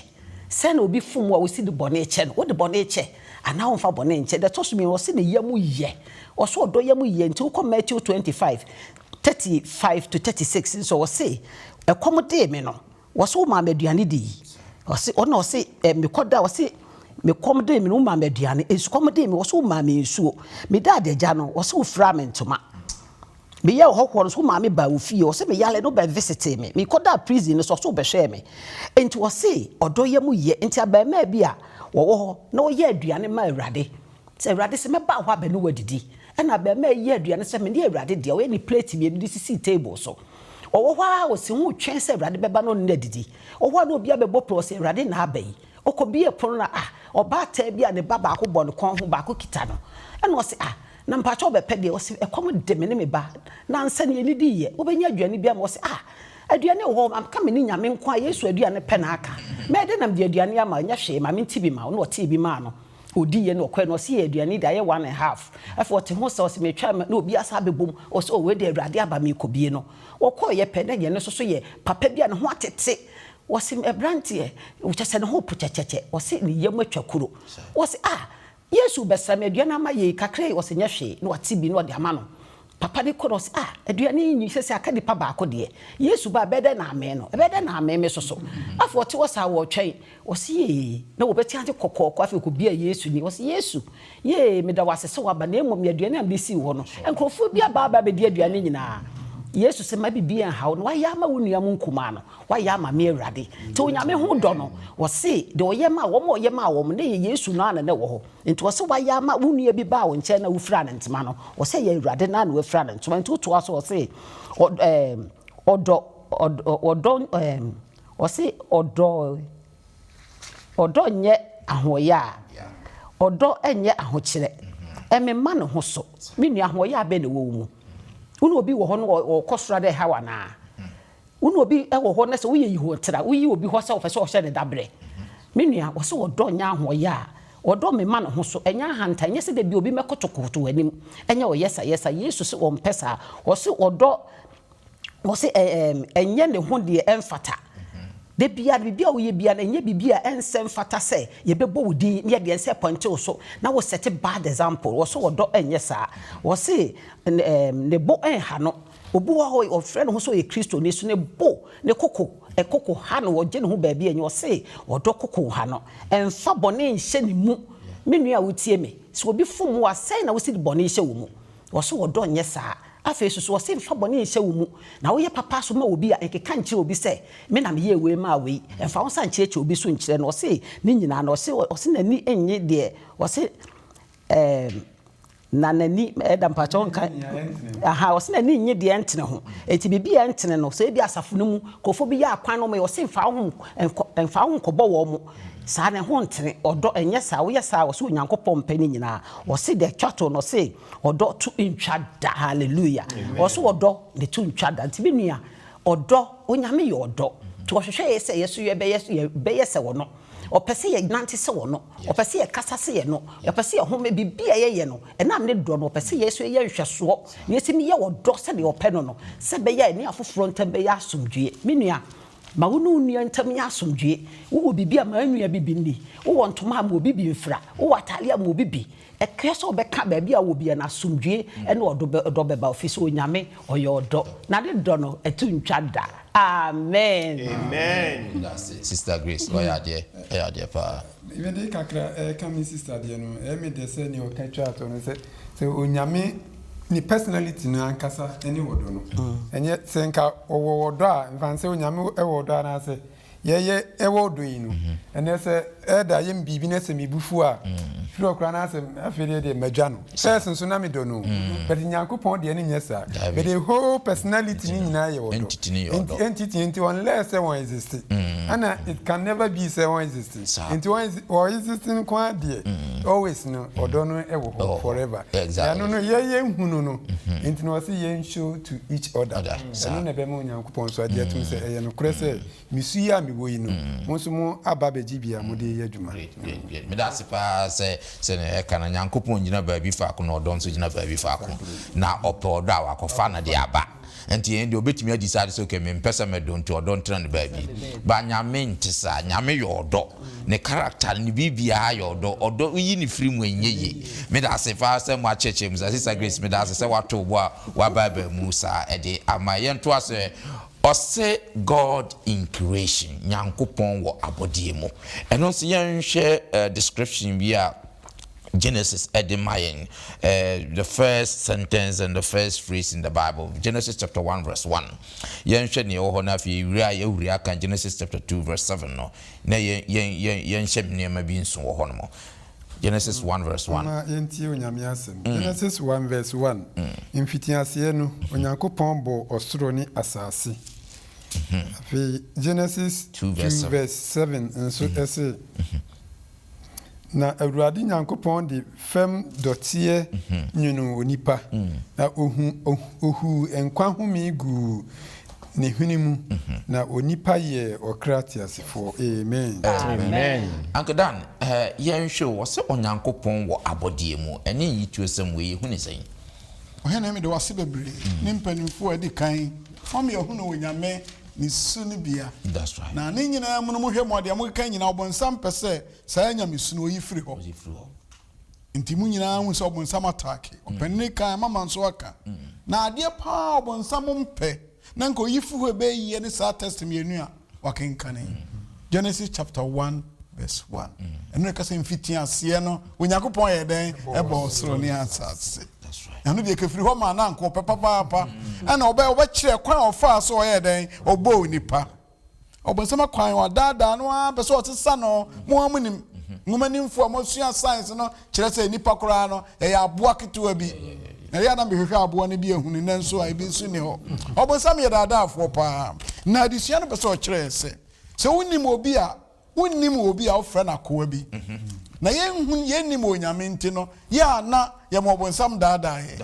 Speaker 3: sɛn na obi fom wo a wosi de bɔne kyɛ no wode bɔne kyɛ anaa womfa bɔne nkyɛ deɛ ɛtɔ so mmienu ɔse ne yam yɛ ɔse ɔdɔ yam yɛ nti wokɔ Matthew twenty five thirty five to thirty six nso ɔse ɛkɔm dee me no Wɔse wo maa me aduane di yi ɔse ɔna ɔse eh mekɔ da ɔse me kɔm dee me no wo maa me aduane nsukɔm dee me wɔse wo maa me nsuo me da adagya no wɔse wo firaa me ntoma me yɛ ɔhɔhoɔ no so wo maa me baa wo fie ɔse me yale no bɛ visitee me me kɔ da prison no so ɔse wo bɛ hwɛɛ me nti ɔse ɔdɔ yɛ mu yɛ nti abɛɛmaa bi a wɔwɔ hɔ na ɔyɛ aduane ma awurade sɛ awurade se mɛba hɔ abɛ ne wo adidi Ɛnna abarimaa yi yɛɛ aduane sɛ mene Awurade dea. Ɔyɛ ne plate mmienu de sisii table so. Ɔwɔ hɔ ara a, ɔsii ho retwɛn sɛ Awurade bɛba na ɔne no adidi. Ɔwɔ hɔ a na obiara bɛbɔ pɔw sɛ, Awurade na aba yi. Ɔkɔbuee pono no a, ah, ɔbaatan bi a ne ba baako bɔ ne kɔn ho, baako kita no. Ɛnna ɔse, Ah, na mpakyɛ wobɛpɛ deɛn? Ɔse, Ɛkɔm de me ne me ba. Nnansa ni yɛnnidiiɛ. Wobɛnya aduane bi ama? Ɔse, Ah, aduane wɔ hɔ. Maka me ne Nyame nko ara, Yesu aduane pɛ na aka. Mɛyɛ dɛn na mede aduane ama wo? Nyɛ hwee, ma mente bi ma wo. Ɛnna ɔtee bi maa no. ɔdi yɛ na ɔkɔɛ na ɔse yɛ aduane da yɛ one and half afei ɔte ho sɛ ɔse metwa na obi asa abɛbom ɔse o wei de awurade aba mekɔ bie no ɔkɔɔ yɛ pɛ na yɛ no soso yɛ papa bi a ne ho atete ɔse ɛbranteɛ kyɛ sɛ ne ho po kyɛkyɛkyɛ ɔse ne yam atwa kuro ɔse ah yesu bɛsra me aduane ama yɛ kakra yi ɔse nyɛ hwee na ɔte bi na ɔde ama no Papa bi kɔ na ɔse, Ah, aduane yi nni, sɛsɛ aka nipa baako deɛ. Yesu ba a, ɛbɛyɛ dɛn na ammee no? Ɛbɛyɛ dɛn na ammee me nso so? Afei wɔte hɔ saa, wɔretwɛn. Wɔse, Yee! Na wɔbɛte ase kɔkɔɔkɔ. Afei ɔkɔbia Yesu ani. Ɔse, Yesu, yee, meda wo ase sɛ woaba, na mmom yɛ aduane a mede sii hɔ no. Nkurɔfoɔ bi aba aba abɛdi aduane no nyinaa. Yesu se, Mma biribiara nnha wo. Na woayɛ ama wo nua mo nkumaa no, woayɛ ama me, Awurade. Te Onyame ho dɔ no. Wɔse, Deɛ ɔyɛ maa wɔn a ɔyɛ maa wɔn no, na ɛyɛ Yesu no ara na na ɛwɔ hɔ. Nti ɔse wayɛ ama wo nua bi baa wo nkyɛn na wofiraa no ntoma no ɔse ɛyɛ awurade naa na wafira no ntoma nti wotoa so ɔse ɔdɔ ɛɛm ɔdɔ ɔdɔ ɔdɔ ɛɛm ɔse ɔdɔ ɔdɔ nyɛ ahoɔyaa ɔdɔ ɛnyɛ ahokyerɛ ɛmema ne ho so me nua ahoɔyaa bɛn na ɛwɔ wo mu wo ne obi wɔ hɔ no ɔkɔ soro a dɛ ɛha wo anaa Wo ne obi wɔ hɔ na sɛ woyɛ yihoatra, woyi obi hɔ sɛ wopɛ sɛ ɔhyɛ no dabere. Me nua, wɔse ɔdɔ nyɛ ahoɔyɛ a, ɔdɔ mema ne ho so, ɛnyɛ ahantan, ɛnyɛ sɛ da biara obi mmɛkotokoto w'anim, ɛnyɛ ɔyɛsayɛsa. Yesu se ɔmpɛ saa. Ɔse ɔdɔ, ɔse ɛ, ɛɛm, ɛnyɛ ne ho deɛ ɛmfata. Da biara no, biribi a woyɛ biara no, ɛnyɛ biribi a ɛnsɛ mfata sɛ yɛbɛbɔ wo din ne yɛde yɛn nsa apɔinte wo so na wo set bad example. Ɔse ɔdɔ ɛnyɛ saa. Ɔse, ɛɛm, ne bo ɛnha no. Obi wɔ hɔ ɔfrɛ ne ho sɛ ɔyɛ Kristoni so ne bo ne koko koko ha no ɔgye ne ho baabi ɛnyɛ ɔse ɔdɔ koko ha no ɛnfa bɔne nhyɛ ne mu me nua a wotie me sɛ obi fom wo a sɛn na wosi de bɔne hyɛ wo mu ɔse ɔdɔ nyɛ saa afei susu ɔse nfa bɔne nhyɛ wo mu na woyɛ papa nso ma obi a nkeka nkyerɛ obi sɛ me na meyɛɛ wei maa wei ɛnfa wo nsa nkyerɛkyerɛ obi so nkyerɛ no ɔse ne nyinaa no ɔse ɔse n'ani nnye deɛ ɔse ɛɛm Na n'ani, Ɛda, mpakyɛw Ɔnka nka, nea ɛntene ho. Aha, ɔse n'ani nnye deɛ ɛntene ho. Enti biribi a ɛntene no, sɛ ebia asafo no mu nkurɔfoɔ bi yɛ akwan na wɔyɛ, ɔse mfa wo ho nkɔ, mfa wo ho nkɔbɔ wɔn. Saa no, ɛho ntene. Ɔdɔ, ɛnyɛ saa. Woyɛ saa a, ɔse Onyankopɔn mpɛ ne nyinaa. Ɔse deɛ ɛtwa to no, ɔse ɔdɔ to ntwa da. Hallelujah. Amen. Ɔse ɔdɔ, ne to ntwa da. Nti me nua, ɔdɔ, Onyame yɛ ɔdɔ. Nti ɔhwehwɛ yɛ sɛ yɛ nso yɛbɛyɛ, yɛbɛyɛ sɛ Ɔno. Ɔpɛ sɛ yɛnante sɛ Ɔno. Ɔpɛ sɛ yɛkasa sɛ yɛnɔ, ɔpɛ sɛ yɛhome, biribi a yɛyɛ no, ɛnam ne dɔ no, ɔpɛ sɛ yɛn nso yɛyɛ nhwɛsoɔ na yɛtumi yɛ ɔdɔ sɛdeɛ ɔpɛ no no, sɛ ɛbɛyɛ a yɛne afoforɔ ntam bɛyɛ asomdwoeɛ. Me nua, ma wo ne wo nua ntam nyɛ asomdwoeɛ. Wowɔ biribi a, ma nua bi bi nni. Wowɔ ntoma a, ma obi bi mfira. Wowɔ atadeɛ a, ma obi bi. Ɛkyerɛ sɛ ɔbɛka baabi a ɔwɔ biara no, asomdwoeɛ ne ɔdɔ bɛba hɔ, ɛfiri sɛ Onyame ɔyɛ ɔdɔ, na ne dɔ no ɛto ntwa da. Amen. Medase
Speaker 1: sister Grace wayɛ adeɛ ɛyɛ adeɛ paa. Mede kakra
Speaker 4: ɛka me sister deɛ no ɛyɛ me dɛ sɛ nea ɔka twaa toɔ no sɛ sɛ onyame ne personality no ankasa ne ɔdɔ no ɛnyɛ sɛ nka ɔwɔ ɔdɔ a nfa nsɛ onyame wɔ ɔdɔ anaasɛ Yɛyɛ ɛwɔ ɔdɔ yi no ɛnɛ sɛ Elder yɛ me biribi na sɛ me bu fu a firi hɔ koraa na asɛ afei deɛ deɛ madwa no Pɛs nso na medɔ no but Nyankopɔn deɛ no nyɛ saa but the whole personality no nyinaa yɛ ɔdɔ nti entity nti unless sɛ wɔn exist ɛna it can never be sɛ wɔn exist nti wɔ exist nko ara deɛ always no ɔdɔ no ɛwɔ hɔ forever ɛno no yɛyɛ nhunu no nti na ɔse yɛn show to each other. Saa. Ɛno na ɛbɛma Onyankopɔn nso agye atom sɛ ɛyɛ nokorɛ sɛ me su yi a mewɔ yi no, mo nso mo aba abɛgye bi a mode reyɛ adwuma. Great, great, great. Meda ase
Speaker 1: paa sɛ sɛnea yɛka no, Nyankopɔn gyina baabi faako na ɔdɔ nso gyina baabi faako. Na ɔpɛ ɔdɔ a, wakɔfa no de aba. Nti yɛn deɛ ɔbɛtumi adi saa de sɛ okay, mempɛ sɛ mɛdɔ nti ɔdɔ ntena no baabi. But Nyame nte saa. Nyame yɛ ɔdɔ. ne character ne biribiara yɛ ɔdɔ ɔdɔ yi ne firi mu ɛnyɛ yie medase paa sɛ mo akyerɛkyerɛ mu saa sister Grace medase sɛ woato wo bo a woaba aba mu saa ɛde ama yɛn to asɛ ɔse God in creation Nyankopɔn wɔ abɔdeɛ mu ɛno nso yɛnhwɛ description bi a Genesis ɛde ma yɛn the first sentence and the first phrase in the Bible Genesis chapter 1 verse 1 yɛnhwɛ nea ɛwɔ hɔ no afei yɛwura yɛwura ka Genesis chapter 2 verse 7 no na yɛn, yɛn, yɛn, yɛnhyɛ nneɛma bi nso wɔ hɔnom. Genesis one verse one. Momma yɛntie Onyame
Speaker 4: asɛm. Genesis one verse one, Mfitiaseɛ no, Onyankopɔn bɔɔ ɔsoro ne asase. Afei, Genesis two verse seven nso se, Na Awurade Nyankopɔn de fam dɔteɛ nwonoo onipa, na ɔhuu nkwa home guu ne hwene mu, na onipa yɛɛ ɔkra teasefoɔ. Amen.
Speaker 5: Uncle Dan,
Speaker 1: yɛnhwɛ o, wɔse Onyankopɔn wɔ abɔdeɛ mu, ɛnyɛ nyituosɛm wei, yɛhu no sɛn? Ɔhene,
Speaker 2: mede wo ase bebree ne mpanimfoɔ a adi kan, wɔn yɛ ɔhene wɔ Nyame Ne su no bia. Na ne
Speaker 1: nyinaa mu no mo hwɛ
Speaker 2: mo deɛ mo keka nyinaa ɔbonsam pɛ sɛ saa nyamessu no ɔyi firi hɔ. Nti mo nyinaa hu sɛ ɔbonsam ataake ɔpanini kan ama ma nso aka. Na adeɛ paa a ɔbonsam mpɛ na nka ɔyi firi hɔ ɛbɛyɛ yie ne saa test mmienu a wakenkane. Genesis chapter one verse one. Ɛno na ɛka sɛ mfitiaseɛ no Onyankopɔn yɛɛ dɛn? Ɛbɔɔ ɔsoro ne asase. Ɛno deɛ kefiri hɔ maa na anka ɔpɛ papaapa ɛna ɔbɛ ɔbɛkyerɛ kwan a ɔfaa so ɔyɛ dɛn ɔbɔ onipa ɔbɔnsɛm akwan ɔdaadaa no ara pɛ sɛ ɔsesa no mo ara mo nim nwoma nimfo a mosua science no kyerɛ sɛ nipa koraa no ɛyɛ aboa ketewa bi na yɛ na mehwehwɛ aboa no bi ahunu na nso a ebi nso ni hɔ ɔbɔnsɛm yɛ daadaafoɔ paa na adesua no pɛ sɛ ɔkyerɛ sɛ sɛ wonim obi a Wonnim obi a wofrɛ no akoa bi, na yɛnhu, yɛnnim Onyame nti no, yɛ a na yɛma ɔbonsam daadaa yɛn.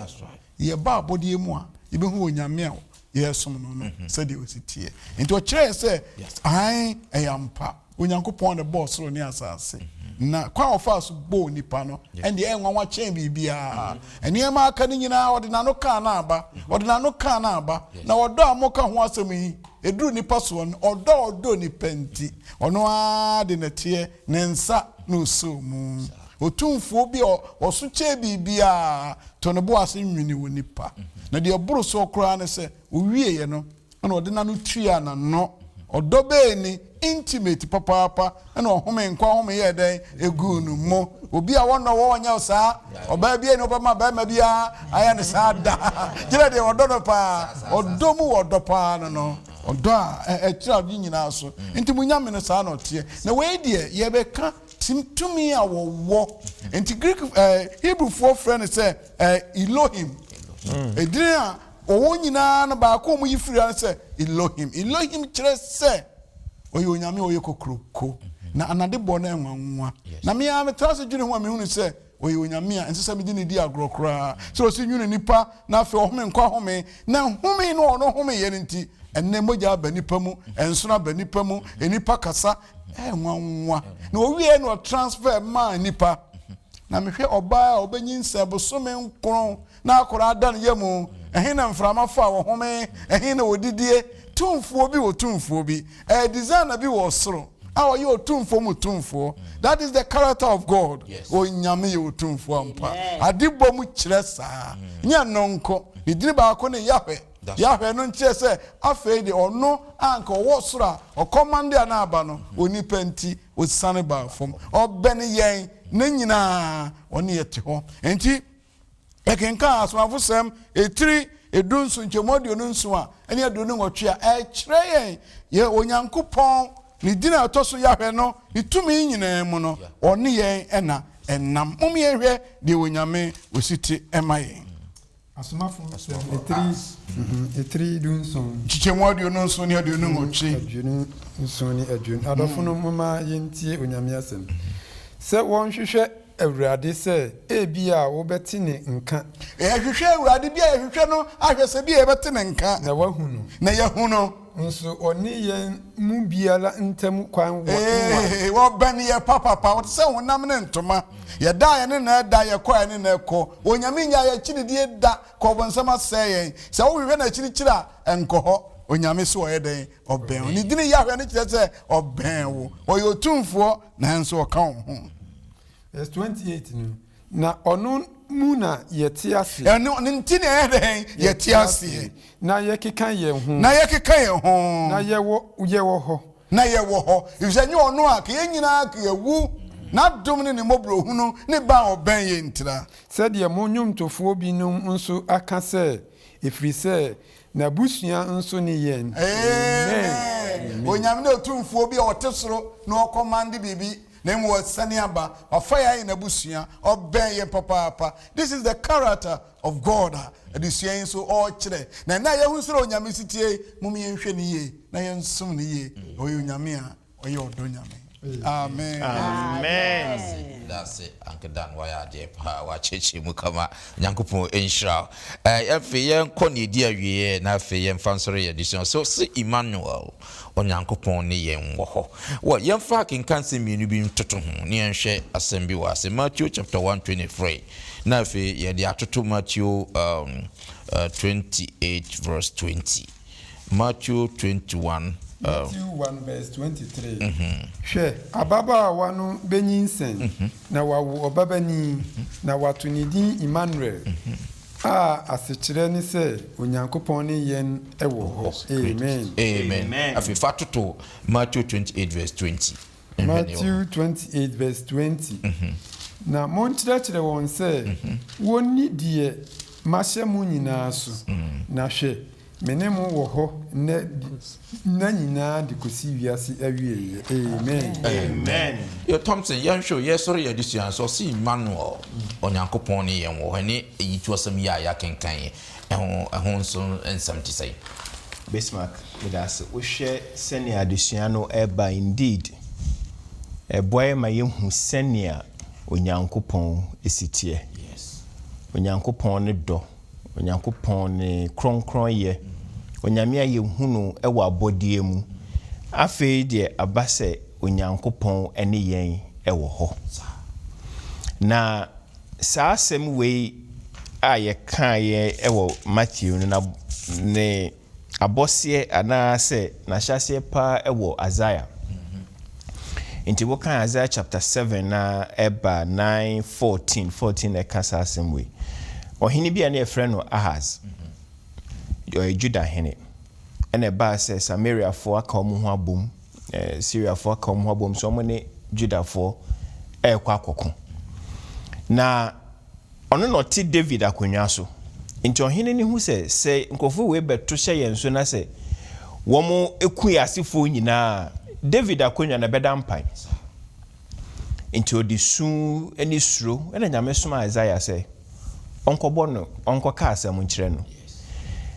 Speaker 2: Yɛba
Speaker 1: abɔdeɛ mu
Speaker 2: a, yɛbɛhu Onyame a yɛresom no no sɛdeɛ ɔsi teɛ. Nti ɔkyerɛɛ sɛ, aane, ɛyɛ ampa, Onyankopɔn na ɛbɔɔ soro ne asaase, na kwan a ɔfaa so bɔɔ nnipa no, ɛndeɛ ɛyɛ nwanwa kyɛn biribiara. Nneɛma a aka no nyinaa, ɔde n'ano kaa no aba, ɔde n'ano kaa no aba, na ɔdɔ a moka ho asɛm yi, Ɛduru nnipa soɔ no, ɔdɔ a ɔdɔ nnipa nti, ɔno ara de na ɛteɛ, ne nsa na ɔsoo mu. Otumfoɔ bi a ɔso kyɛɛ biribiara too ne bo ase nwenee onipa, na deɛ ɛboro soɔ koraa ne sɛ, ɔwieeɛ no, ɛnna ɔde n'ano tuaa n'ano. Ɔdɔ bɛn ni! Intimate papaapa ɛna ɔhome nkwa home yɛɛ dɛn eguu no mo obi a wɔnnɔ wɔ wɔnyɛ wo saa ɔbaa bia ni ɔbɛma bɛrima bia ayɛ ne saa da gyina deɛ wɔdɔ no paa ɔdɔ mu wɔdɔ paa no no ɔdɔ a ɛkyerɛ ade nyinaa so nti mo nyame no saa na ɔteɛ na wei deɛ yɛbɛka tim tumi a wɔwɔ nti Greek eh, Hebrewfoɔ frɛ no sɛ eh, Elohim edin a Wɔ wɔn nyinaa no, baako a wɔyi firi ha ne sɛ Elohim. Elohim kyerɛ sɛ ɔyɛ Onyame a ɔyɛ kokuroko, na anade bɔ no anwanwa. Na me ara metra ase dwene ho a mehunu sɛ ɔyɛ Onyame a ɛnsɛ sɛ mede no di agorɔ koraa. Sɛ ɔsi nwunu nnipa na afei ɔhome nkwa home, na nhome no a ɔno homeeɛ no nti, ɛnnɛ mogya aba nnipa mu, nsono aba nnipa mu, nnipa kasa anwanwa, na ɔwieɛ no ɔtransfer maa nnipa. Na mehwɛ ɔbaa a ɔbɛnyinsɛn bosome nkron, na akwadaa da ne yam, ɛhe na mframa faa wɔ home, ɛhe na wɔdidie, tumfoɔ bi wɔ tumfoɔ bi, ɛyɛ designer bi wɔ ɔsoro a ɔyɛ ɔtumfoɔ mu tumfoɔ, that is the character of God, Onyame yɛ ɔtumfoɔ ampa, ade bɔ mu kyerɛ saa, nyɛ ɛno nko, ne dini baako ne Yahweh, Yahweh no nkyerɛ sɛ afei deɛ ɔno a anka ɔwɔ ɔsoro a ɔkɔmande a na aba no, onipa nti ɔsiane baa fam, ɔbɛne yɛn, ne nyinaa ɔne yɛte hɔ, enti. Yɛkenkan Asomafosɛm etiri edunson nkyɛmu aduonu nson a ɛne aduonu nwɔtwe a, ɛkyerɛ yɛn yɛ Onyankopɔn ne din a ɛtɔ so Yahweh no ne tumi nyinaa mu no, ɔne yɛn na ɛnam. Mom yɛnhwɛ deɛ Onyame osi te ɛma yɛn. Asomafo
Speaker 4: nsɛm etiri etiri dunson. Nkyekyɛmu aduonu nson
Speaker 2: ne aduonu nwɔtwe. Aduonu nson
Speaker 4: ne aduonu. Adɔfo nom, momma yɛntie Onyame asɛm. Sɛ wɔnhwehwɛ Awurade sɛ ebia wobɛte ne nka. Yɛhwehwɛ Awurade,
Speaker 2: bi a yɛhwehwɛ no ahwɛ sɛ bi a yɛbɛte ne nka. Na wahu no. Na
Speaker 4: yɛahu no.
Speaker 2: Nso ɔne
Speaker 4: yɛn mu biara ntam kwan wɔ nware. Ee, ɔbɛn
Speaker 2: yɛn papapa. Ɔte sɛ honam ne ntoma. Yɛda a yɛne no ɛda, yɛkɔ a yɛne no ɛkɔ. Onyame nnyaa yɛn akyi didie da, kɔ ɔbonsam asɛe yɛn. Sɛ wohwehwɛ no akyirikyiri a, nkɔ hɔ. Onyame so ɔyɛ dɛn? Ɔbɛn wo. Ne din Yahweh no kyerɛ sɛ ɔbɛn wo. Ɔyɛ otumfoɔ nanso ɔka wo ho. Verse 28
Speaker 4: no, Na ɔno mu na yɛte ase. Ɛno ne nti na yɛyɛ
Speaker 2: dɛn? Yɛte aseɛ. Na yɛkeka
Speaker 4: yɛn ho. Na yɛkeka yɛn ho.
Speaker 2: Na yɛwɔ, yɛwɔ
Speaker 4: hɔ. Na yɛwɔ hɔ.
Speaker 2: Efisɛ nyɛ ɔno a, ka yɛn nyinaa ka yɛawu. N'adom ne ne mmɔborɔhunu ne ba a ɔbɛn yɛn ntira. Sɛdeɛ mo
Speaker 4: nnwomtofoɔ binom nso aka sɛ, Ɛfiri sɛ N'abusua nso ne yɛn. Amen
Speaker 2: Onyame ne otumfuo bi a ɔte soro na ɔkɔmande biribi na mmom ɔsane aba wafa yɛn ayɛ n'abusua ɔbɛn yɛn papaapa this is the character of God a adesua yi nso ɔrekyerɛ na ɛnɛ a yɛahu srɛ Onyame setie yi mom yɛnhwɛ no yie na yɛnsom no yie ɔyɛ Onyame a Ɔyɛ ɔdɔ Nyame. Amen. Amen.
Speaker 5: Dase
Speaker 1: ankedan wayɛ adeɛ paa wakyerɛkyerɛ mu kama Nyankopɔn nhyira wo eh, afei yɛnkɔ ne ɛdi awieɛ na afei yɛmfa nsɔre yɛ adesua so se Emmanuel Onyankopɔn ne yɛn wɔ hɔ wɔ yɛmfa akenka nsɛm mmienu bi ntoto ho ne yɛnhwɛ asɛm bi wɔ ase Matthew chapter 123 na afei yɛde atoto Matthew um, uh, 28 verse 20 Matthew twenty one.
Speaker 4: Matthew one verse twenty three. Hwɛ, ababaawa no benyinsɛn, na wawo ɔbabanin, na wɔato ne din Immanuel, a asekyerɛ ne sɛ, Onyankopɔn ne yɛn wɔ hɔ. Amen. Amen. Afei
Speaker 1: fa toto Matthew twenty eight verse twenty. mfɛnni wɔ ho. Matthew twenty eight
Speaker 4: verse twenty, Na monkyerɛkyerɛ wɔn sɛ wɔnni deɛ mahyɛ mo nyinaa so, na hwɛ, me ne mo wɔ hɔ nnɛ de nna nyinaa de kɔsi wiase awieɛ. Amen. Amen. Yo Thompson,
Speaker 1: yɛnhwɛ o, yɛresɔre yɛn adesua no so, ɔse Emmanuel, Onyankopɔn ne yɛn wɔ hɔ, ɛne ayitoɔsɛm yi a yɛakenkan yi. Ɛho ɛho nso nsɛm te sɛn? Bismarck,
Speaker 5: Meda ase. Wohwɛ sɛnea adesua no reba Indeed, ɛboa yɛn ma yehu sɛnea Onyankopɔn si teɛ. Onyankopɔn ne dɔ. Onyankopɔn ne kronkronyɛ. Onyame a yehu no wɔ abɔdeɛ mu. Afei deɛ aba sɛ Onyankopɔn ne yɛn wɔ hɔ. Na Saa asɛm wei a yɛkaeɛ wɔ Mateo no na ne abɔseɛ anaa sɛ n'ahyɛaseɛ pa ara wɔ Isaiah. Nti wokan Isaiah chapter seven na ɛba nine fourteen, fourteen na ɛka saa asɛm wei. Ɔhene bi a na yɛfrɛ no Ahas, ɔyɛ Judah hene, ɛna ɛbaa sɛ Samariafoɔ aka wɔn ho abom Siriafoɔ aka wɔn ho abom sɛ wɔne Yudafoɔ rekɔ akɔko. Na ɔno na ɔte Dawid akonnwa so. Enti ɔhene no hu sɛ, sɛ nkurɔfoɔ wei bɛto hyɛ yɛn so na sɛ wɔku yɛn asefoɔ nyinaa a, Dawid akonnwa no, ɛbɛda mpan. Enti ɔde su ne suro na Nyame somaa Yesaia sɛ. ɔnkɔbɔ no, ɔnkɔka asɛm nkyerɛ no.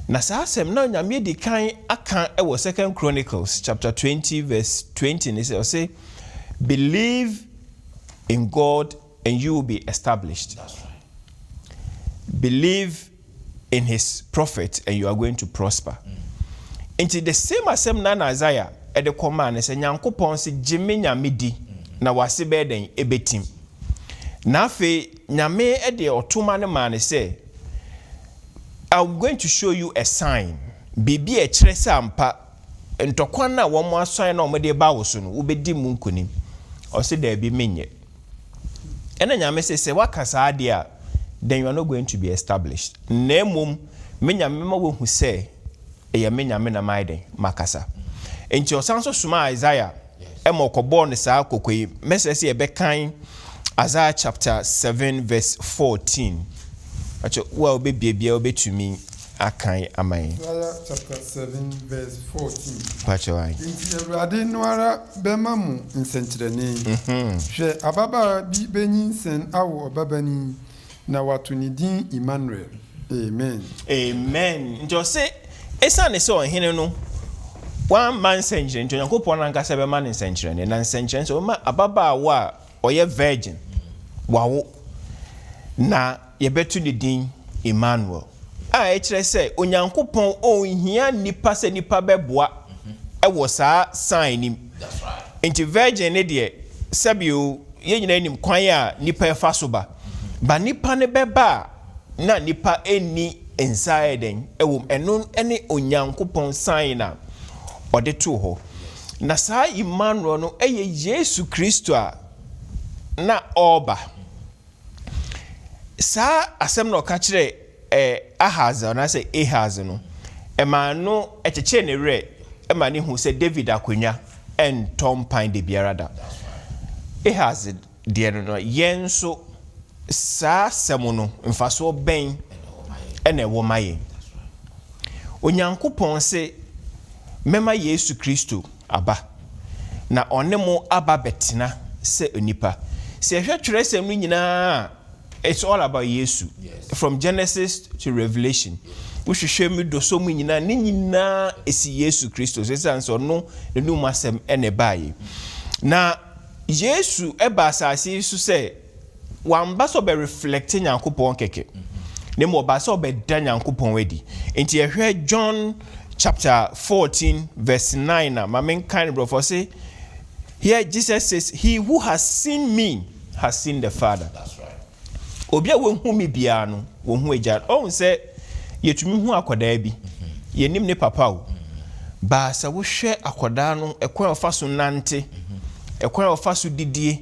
Speaker 5: Na saa asɛm no a Onyame adi kan aka wɔ Second Chronicles chapter twenty verse twenty ne sɛ, ɔse, Believe in God and you will be established, believe in his prophet and you are going to prosper. Nti the same asɛm no ara na Isaiah de kɔmaa no sɛ, Nyankopɔn se, Gye me Nyame di, na w'ase bɛyɛ dɛn? Ɛbɛtim. Na afei, Nyame de ɔto ma no maa no sɛ, I'm going to show you a sign, biribi a ɛkyerɛ sɛ ampa ntɔkwa no a wɔasɔn na wɔde reba wo so no, wobɛdi mu nkonim. Ɔse, daabi, menyɛ. Ɛna Nyame se, sɛ woaka saa deɛ a, then you are not going to be established. Na mmom, me Nyame mɛma woahu sɛ ɛyɛ me Nyame na mayɛ dɛn? Makasa. Enti ɔsan nso somaa Isaiah. ma ɔkɔbɔɔ no saa kɔkɔ yi. Mɛsrɛ sɛ yɛbɛkan Isaiah chapter seven verse fourteen. Mpakyɛ wo a wobɛbie biara wobɛtumi akan ama yɛn. Isaiah
Speaker 4: chapter seven verse fourteen. Mpakyɛ
Speaker 5: wo ae. Enti Awurade
Speaker 4: no ara bɛma mo nsɛnkyerɛnne. Hwɛ, ababaawa bi bɛnyinsɛn awo ɔbabanin, Na wɔato ne din Immanuel. Amen. Amen.
Speaker 5: Nti ɔse, Esiane sɛ ɔhene no wamma nsɛnkyerɛnne nti, Onyankopɔn no ankasa bɛma no nsɛnkyerɛnne. Na nsɛnkyerɛnne sɛ ɔbɛma ababaawa a ɔyɛ virgin wawo, na yɛbɛto ne din Immanuel, a ɛkyerɛ sɛ Onyankopɔn ɔnhia nnipa sɛ nnipa bɛboa wɔ saa sign no mu. Enti
Speaker 1: virgin no deɛ,
Speaker 5: sɛbi o, yɛn nyinaa nim kwan a nipa ɛfa so ba. Ba nipa no bɛba a, na nipa nni nsa ayɛ dɛn wɔ mu. Ɛno ne Onyankopɔn sign a ɔde too hɔ. Na saa Immanuel no yɛ Yesu Kristo a na ɔreba. Saa asɛm na ɔka kyerɛɛ Ɛɛ, Ahas, anaasɛ Ahaz no, ɛmaa no kyekyee ne werɛ ma no huu sɛ Dawid akonnwa ntɔ mpan da biara da. Ahas deɛ no no, yɛn nso saa asɛm no, mfasoɔ bɛn na ɛwɔ ma yɛn? Onyankopɔn se, Mɛma Yesu Kristo aba, na ɔne mo aba abɛtena sɛ onipa. Sɛ yɛhwɛ Twerɛsɛm no nyinaa a, It's all about Yesu from Genesis to Revelation wo hwehwɛ mu dɔsɔ mu nyinaa ne nyinaa ɛsi Yesu Kristo so ɛsiane sɛ ɔno ne nom asɛm ɛna ɛbaeɛ na Yesu ɛba asase yi so sɛ wamba sɛ ɔbɛ reflect Nyankopɔn kɛkɛ na mmom ɔbaa sɛ ɔbɛda Nyankopɔn adi nti yɛhwɛ John chapter 14 verse 9 a ma menkan no brɔfo ɔse Here Jesus says, He who has seen me has seen the Father.
Speaker 1: Obi a wahu
Speaker 5: me biara no, wahu Agya no. Ɔhu sɛ yɛtumi hu akwadaa bi. Yɛnim ne papa o. Baa sɛ wohwɛ akwadaa no, ɛkwan a ɔfa so nante, ɛkwan a ɔfa so didie,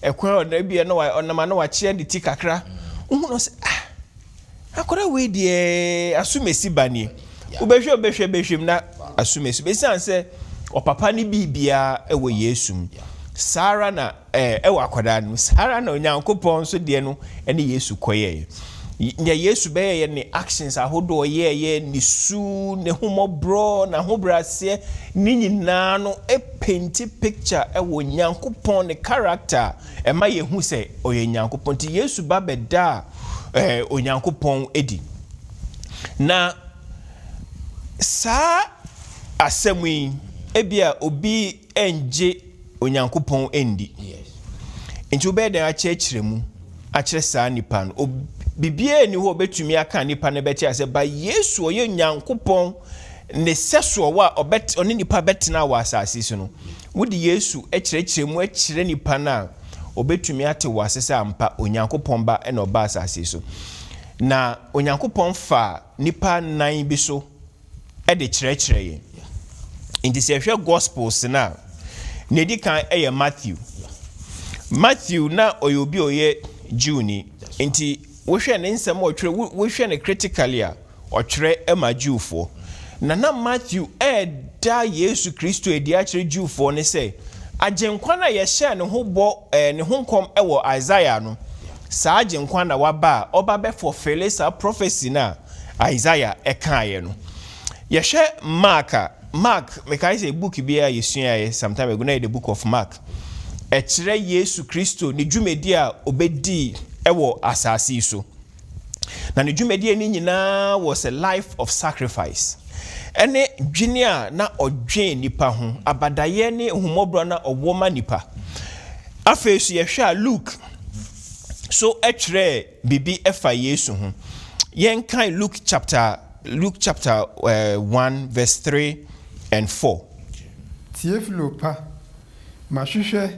Speaker 5: ɛkwan a ɔda bi a na ɔnam a na wakyea ne ti kakra, wohu no sɛ ah, Akwadaa wei deɛ asumasi ba nie. Wobɛhwɛ wobɛhwɛ bɛhwɛm na asumasi ba. Esiane sɛ ɔpapa ne biribiara wɔ Yesu mu. Saa ara na ɛwɔ akwadaa no mu. Saa ara na Onyankopɔn nso deɛ no ne Yesu kɔyɛeɛ. Nea Yesu bɛyɛeɛ ne actions ahodoɔ ɔyɛeɛ, ne su, n'ahummɔborɔ, n'ahobrɛaseɛ, ne nyinaa no penti picture wɔ Onyankopɔn ne character a ɛma yɛhu sɛ ɔyɛ Nyankopɔn. Nti Yesu ba bɛdaa Onyankopɔn adi. Na saa asɛm yi, ebia obi nnye Onyankopɔn nndi.
Speaker 1: Nti wobɛyɛ
Speaker 5: dɛn akyerɛkyerɛ mu akyerɛ saa nipa no? Biribiara nni hɔ a obetumi aka a nipa no bɛte ase. Ba Yesu, ɔyɛ Nyankopɔn ne sɛso a ɔne nnipa bɛtena wɔ asase so no, wode Yesu kyerɛkyerɛ mu kyerɛ nnipa no a, wɔbɛtumi ate wo ase sɛ ampa Onyankopɔn Ba na ɔbaa asase so. Na Onyankopɔn faa nnipa nnan bi so de kyerɛkyerɛ yɛn. Nti sɛ ɛhwɛ Gospels no a, nea ɛdi kan yɛ Matthew. Matthew na ɔyɛ obi a ɔyɛ Jewni, nti wohwɛ ne nsɛm a ɔtwerɛ, wohwɛ no critically a, ɔtwerɛ ma Jewfoɔ. Na na Matthew reda Yesu Kristo adi akyerɛ Jewfoɔ no sɛ Agyenkwa no a yɛhyɛɛ ne ho bɔ, ne ho nkɔm wɔ Isaiah no, saa Agyenkwa no na waba a ɔba bɛ fulfille saa prophecy no a Isaiah kaeɛ no. Yɛhwɛ Mark a, Mark, mekae sɛ book bi a yɛsuaeɛ some time ago, na ɛyɛ The Book of Mark, ɛkyerɛ Yesu Kristo ne dwumadie a ɔbɛdii wɔ asase yi so. Na ne dwumadie no nyinaa was a life of sacrifice. Ɛne dwene a na ɔdwen nnipa ho, abadaeɛ ne ahummɔborɔ na ɔwɔ ma nnipa. Afei so yɛhwɛ a Luke so ɛtwerɛɛ biribi ɛfa Yesu ho. Yɛnkan Luke chapter Luke chapter uh, 1 verse 3 and 4. Teofilo
Speaker 4: pa, mahwehwɛ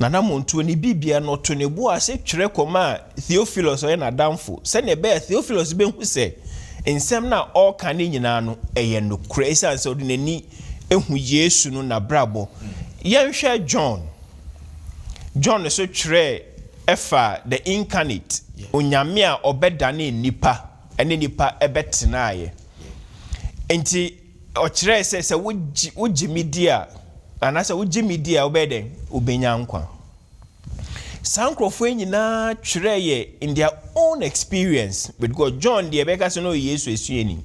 Speaker 5: Nana Montuo ne bibia na ɔto ne bo ase twerɛ kɔmaa Theophilus a ɔyɛ n'adamfo sɛdeɛ ɛbɛyɛ a Theophilus bɛhu sɛ nsɛm no a ɔreka no nyinaa no, ɛyɛ nokorɛ ɛsiane sɛ ɔde n'ani ahu Yesu no n'abrabɔ. Yɛnhwɛ John. John nso twerɛɛ faa the Incarnate, Onyame a ɔbɛdanee nnipa ne nnipa bɛtenaeɛ. Enti. Ɔkyerɛe sɛ sɛ wogye wogye me di a, anaasɛ wogye me di a wobɛyɛ dɛn? Wobenya nkwa. Saa nkurɔfo yi nyinaa twerɛɛ yɛ in their own experience with God. John deɛ yɛbɛka sɛ na ɔyɛ Yesu asuani,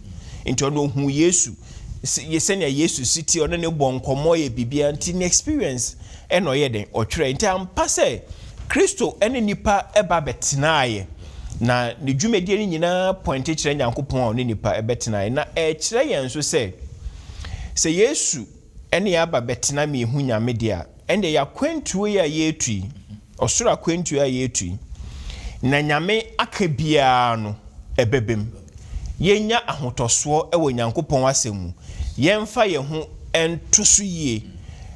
Speaker 5: nti ɔno ohuu Yesu, sɛ sɛnea Yesu si teɛ, ɔne no bɔɔ nkɔmmɔ yɛ biribiara, nti ne experience Ɛnna ɔyɛɛ dɛn? Ɔtwerɛe. Enti ampa sɛ Kristo ne nnipa ba bɛtenaeɛ, na ne dwumadie no nyinaa pɔinte kyerɛ Nyankopɔn a ɔne nnipa bɛtenaeɛ. Na ɛrekyerɛ yɛn nso sɛ, sɛ Yesu ne yɛn aba bɛtena ma yɛhu Nyame deɛ a, ɛnneɛ yɛn akwantuo yi a yɛretu yi, ɔsoro akwantuo yi a yɛretu yi, na Nyame aka biara no, ɛbɛbam. yɛnnya ahotɔsoɔ wɔ Nyankopɔn asɛm mu, yɛmfa yɛn ho nto so yie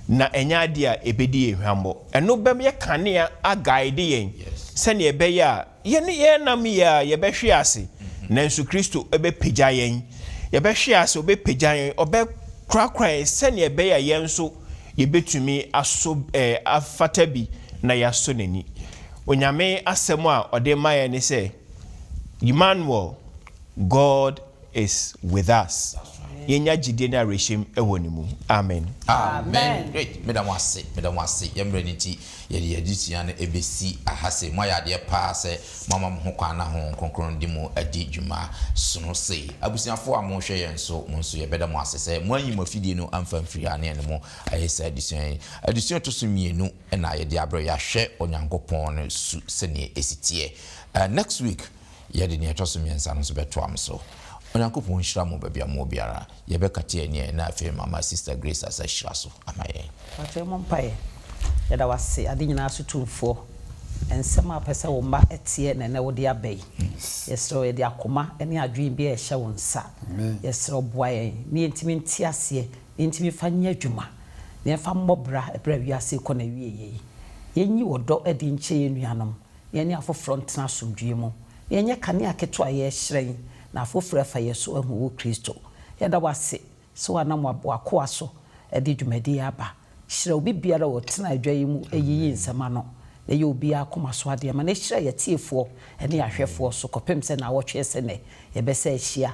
Speaker 5: na ɛnyɛ adeɛ a ɛbɛdi yɛn hwammɔ. Ɛno bɛyɛ kanea aguide yɛn sɛdeɛ ɛbɛyɛ a yɛne yɛn nam yɛ a yɛbɛhwe ase nanso Kristo bɛpagya yɛn. Yɛbɛhwe ase, ɔbɛpagya yɛn, ɔbɛkorakora yɛn sɛdeɛ ɛbɛyɛ a yɛn nso yɛbɛtumi aso afata bi na yɛasɔ n'ani. Onyame asɛm a ɔde ma yɛn ne sɛ. Emmanuel, God is with us. Yɛnya gyedie ne awerɛhyɛm wɔ Ne mu. Amen. Amen
Speaker 1: ei meda mo ase meda mo ase yɛ mmerɛ no nti yɛde yɛ adesua no ɛbɛsi aha sei moayɛ adeɛ paa sɛ moama mo ho kwan na Honhom Kronkron de mo adi dwuma sono sei abusuafoɔ a mohwɛ yɛn nso mo nso yɛbɛda mo ase sɛ moanyi mo afidie no amfa amfiri ha ne yɛne mo ayɛ saa adesua yi adesua ɛtɔ so mmienu na yɛde abrɛ yɛahwɛ Onyankopɔn no su sɛdeɛ ɛsi teɛ. Ɛ next week yɛde deɛ ɛtɔ so mmiɛnsa no nso bɛtoam so. Onyankopɔn nhyira mo baabi a mowɔ biara. Yɛbɛka te ani a na afei mama Sister Grace asa hyira so ama yɛn. Mpakyɛ yɛmmɔ mpaeɛ.
Speaker 3: Yɛda wo ase ade nyinaa so tumfoɔ, nsɛm a wopɛ sɛ wo mma teɛ na ɛnnɛ wode aba yi. Yɛsrɛ wo yɛde akoma ne adwene biara ɛhyɛ wo nsa. Yɛsrɛ wo boa yɛn ne yɛntumi nte aseɛ Enti mefa nyɛ adwuma, na yɛmfa mmɔ bra bere a wiase rekɔ n'awieeɛ yi. Yɛnyi ɔdɔ adi nkyerɛ yɛn nuanom, na yɛne afoforɔ ntena asomdwoeɛ mu. Yɛnyɛ kanea ketewa a yɛrehyerɛn na afoforɔ afa yɛn so ahu wo, Kristo. Yɛda wo ase sɛ woanam w'akoa so de dwumadi yi aba. Hyira obibiara a ɔtena adwa yi mu yiyi nsɛm ano, na yɛ obiara akoma so adeɛ ma no. Hyira yɛn atiefoɔ ne yɛn ahwɛfoɔ so kɔpem sɛ nnawɔtwe asi nnɛ yɛbɛsan ahyia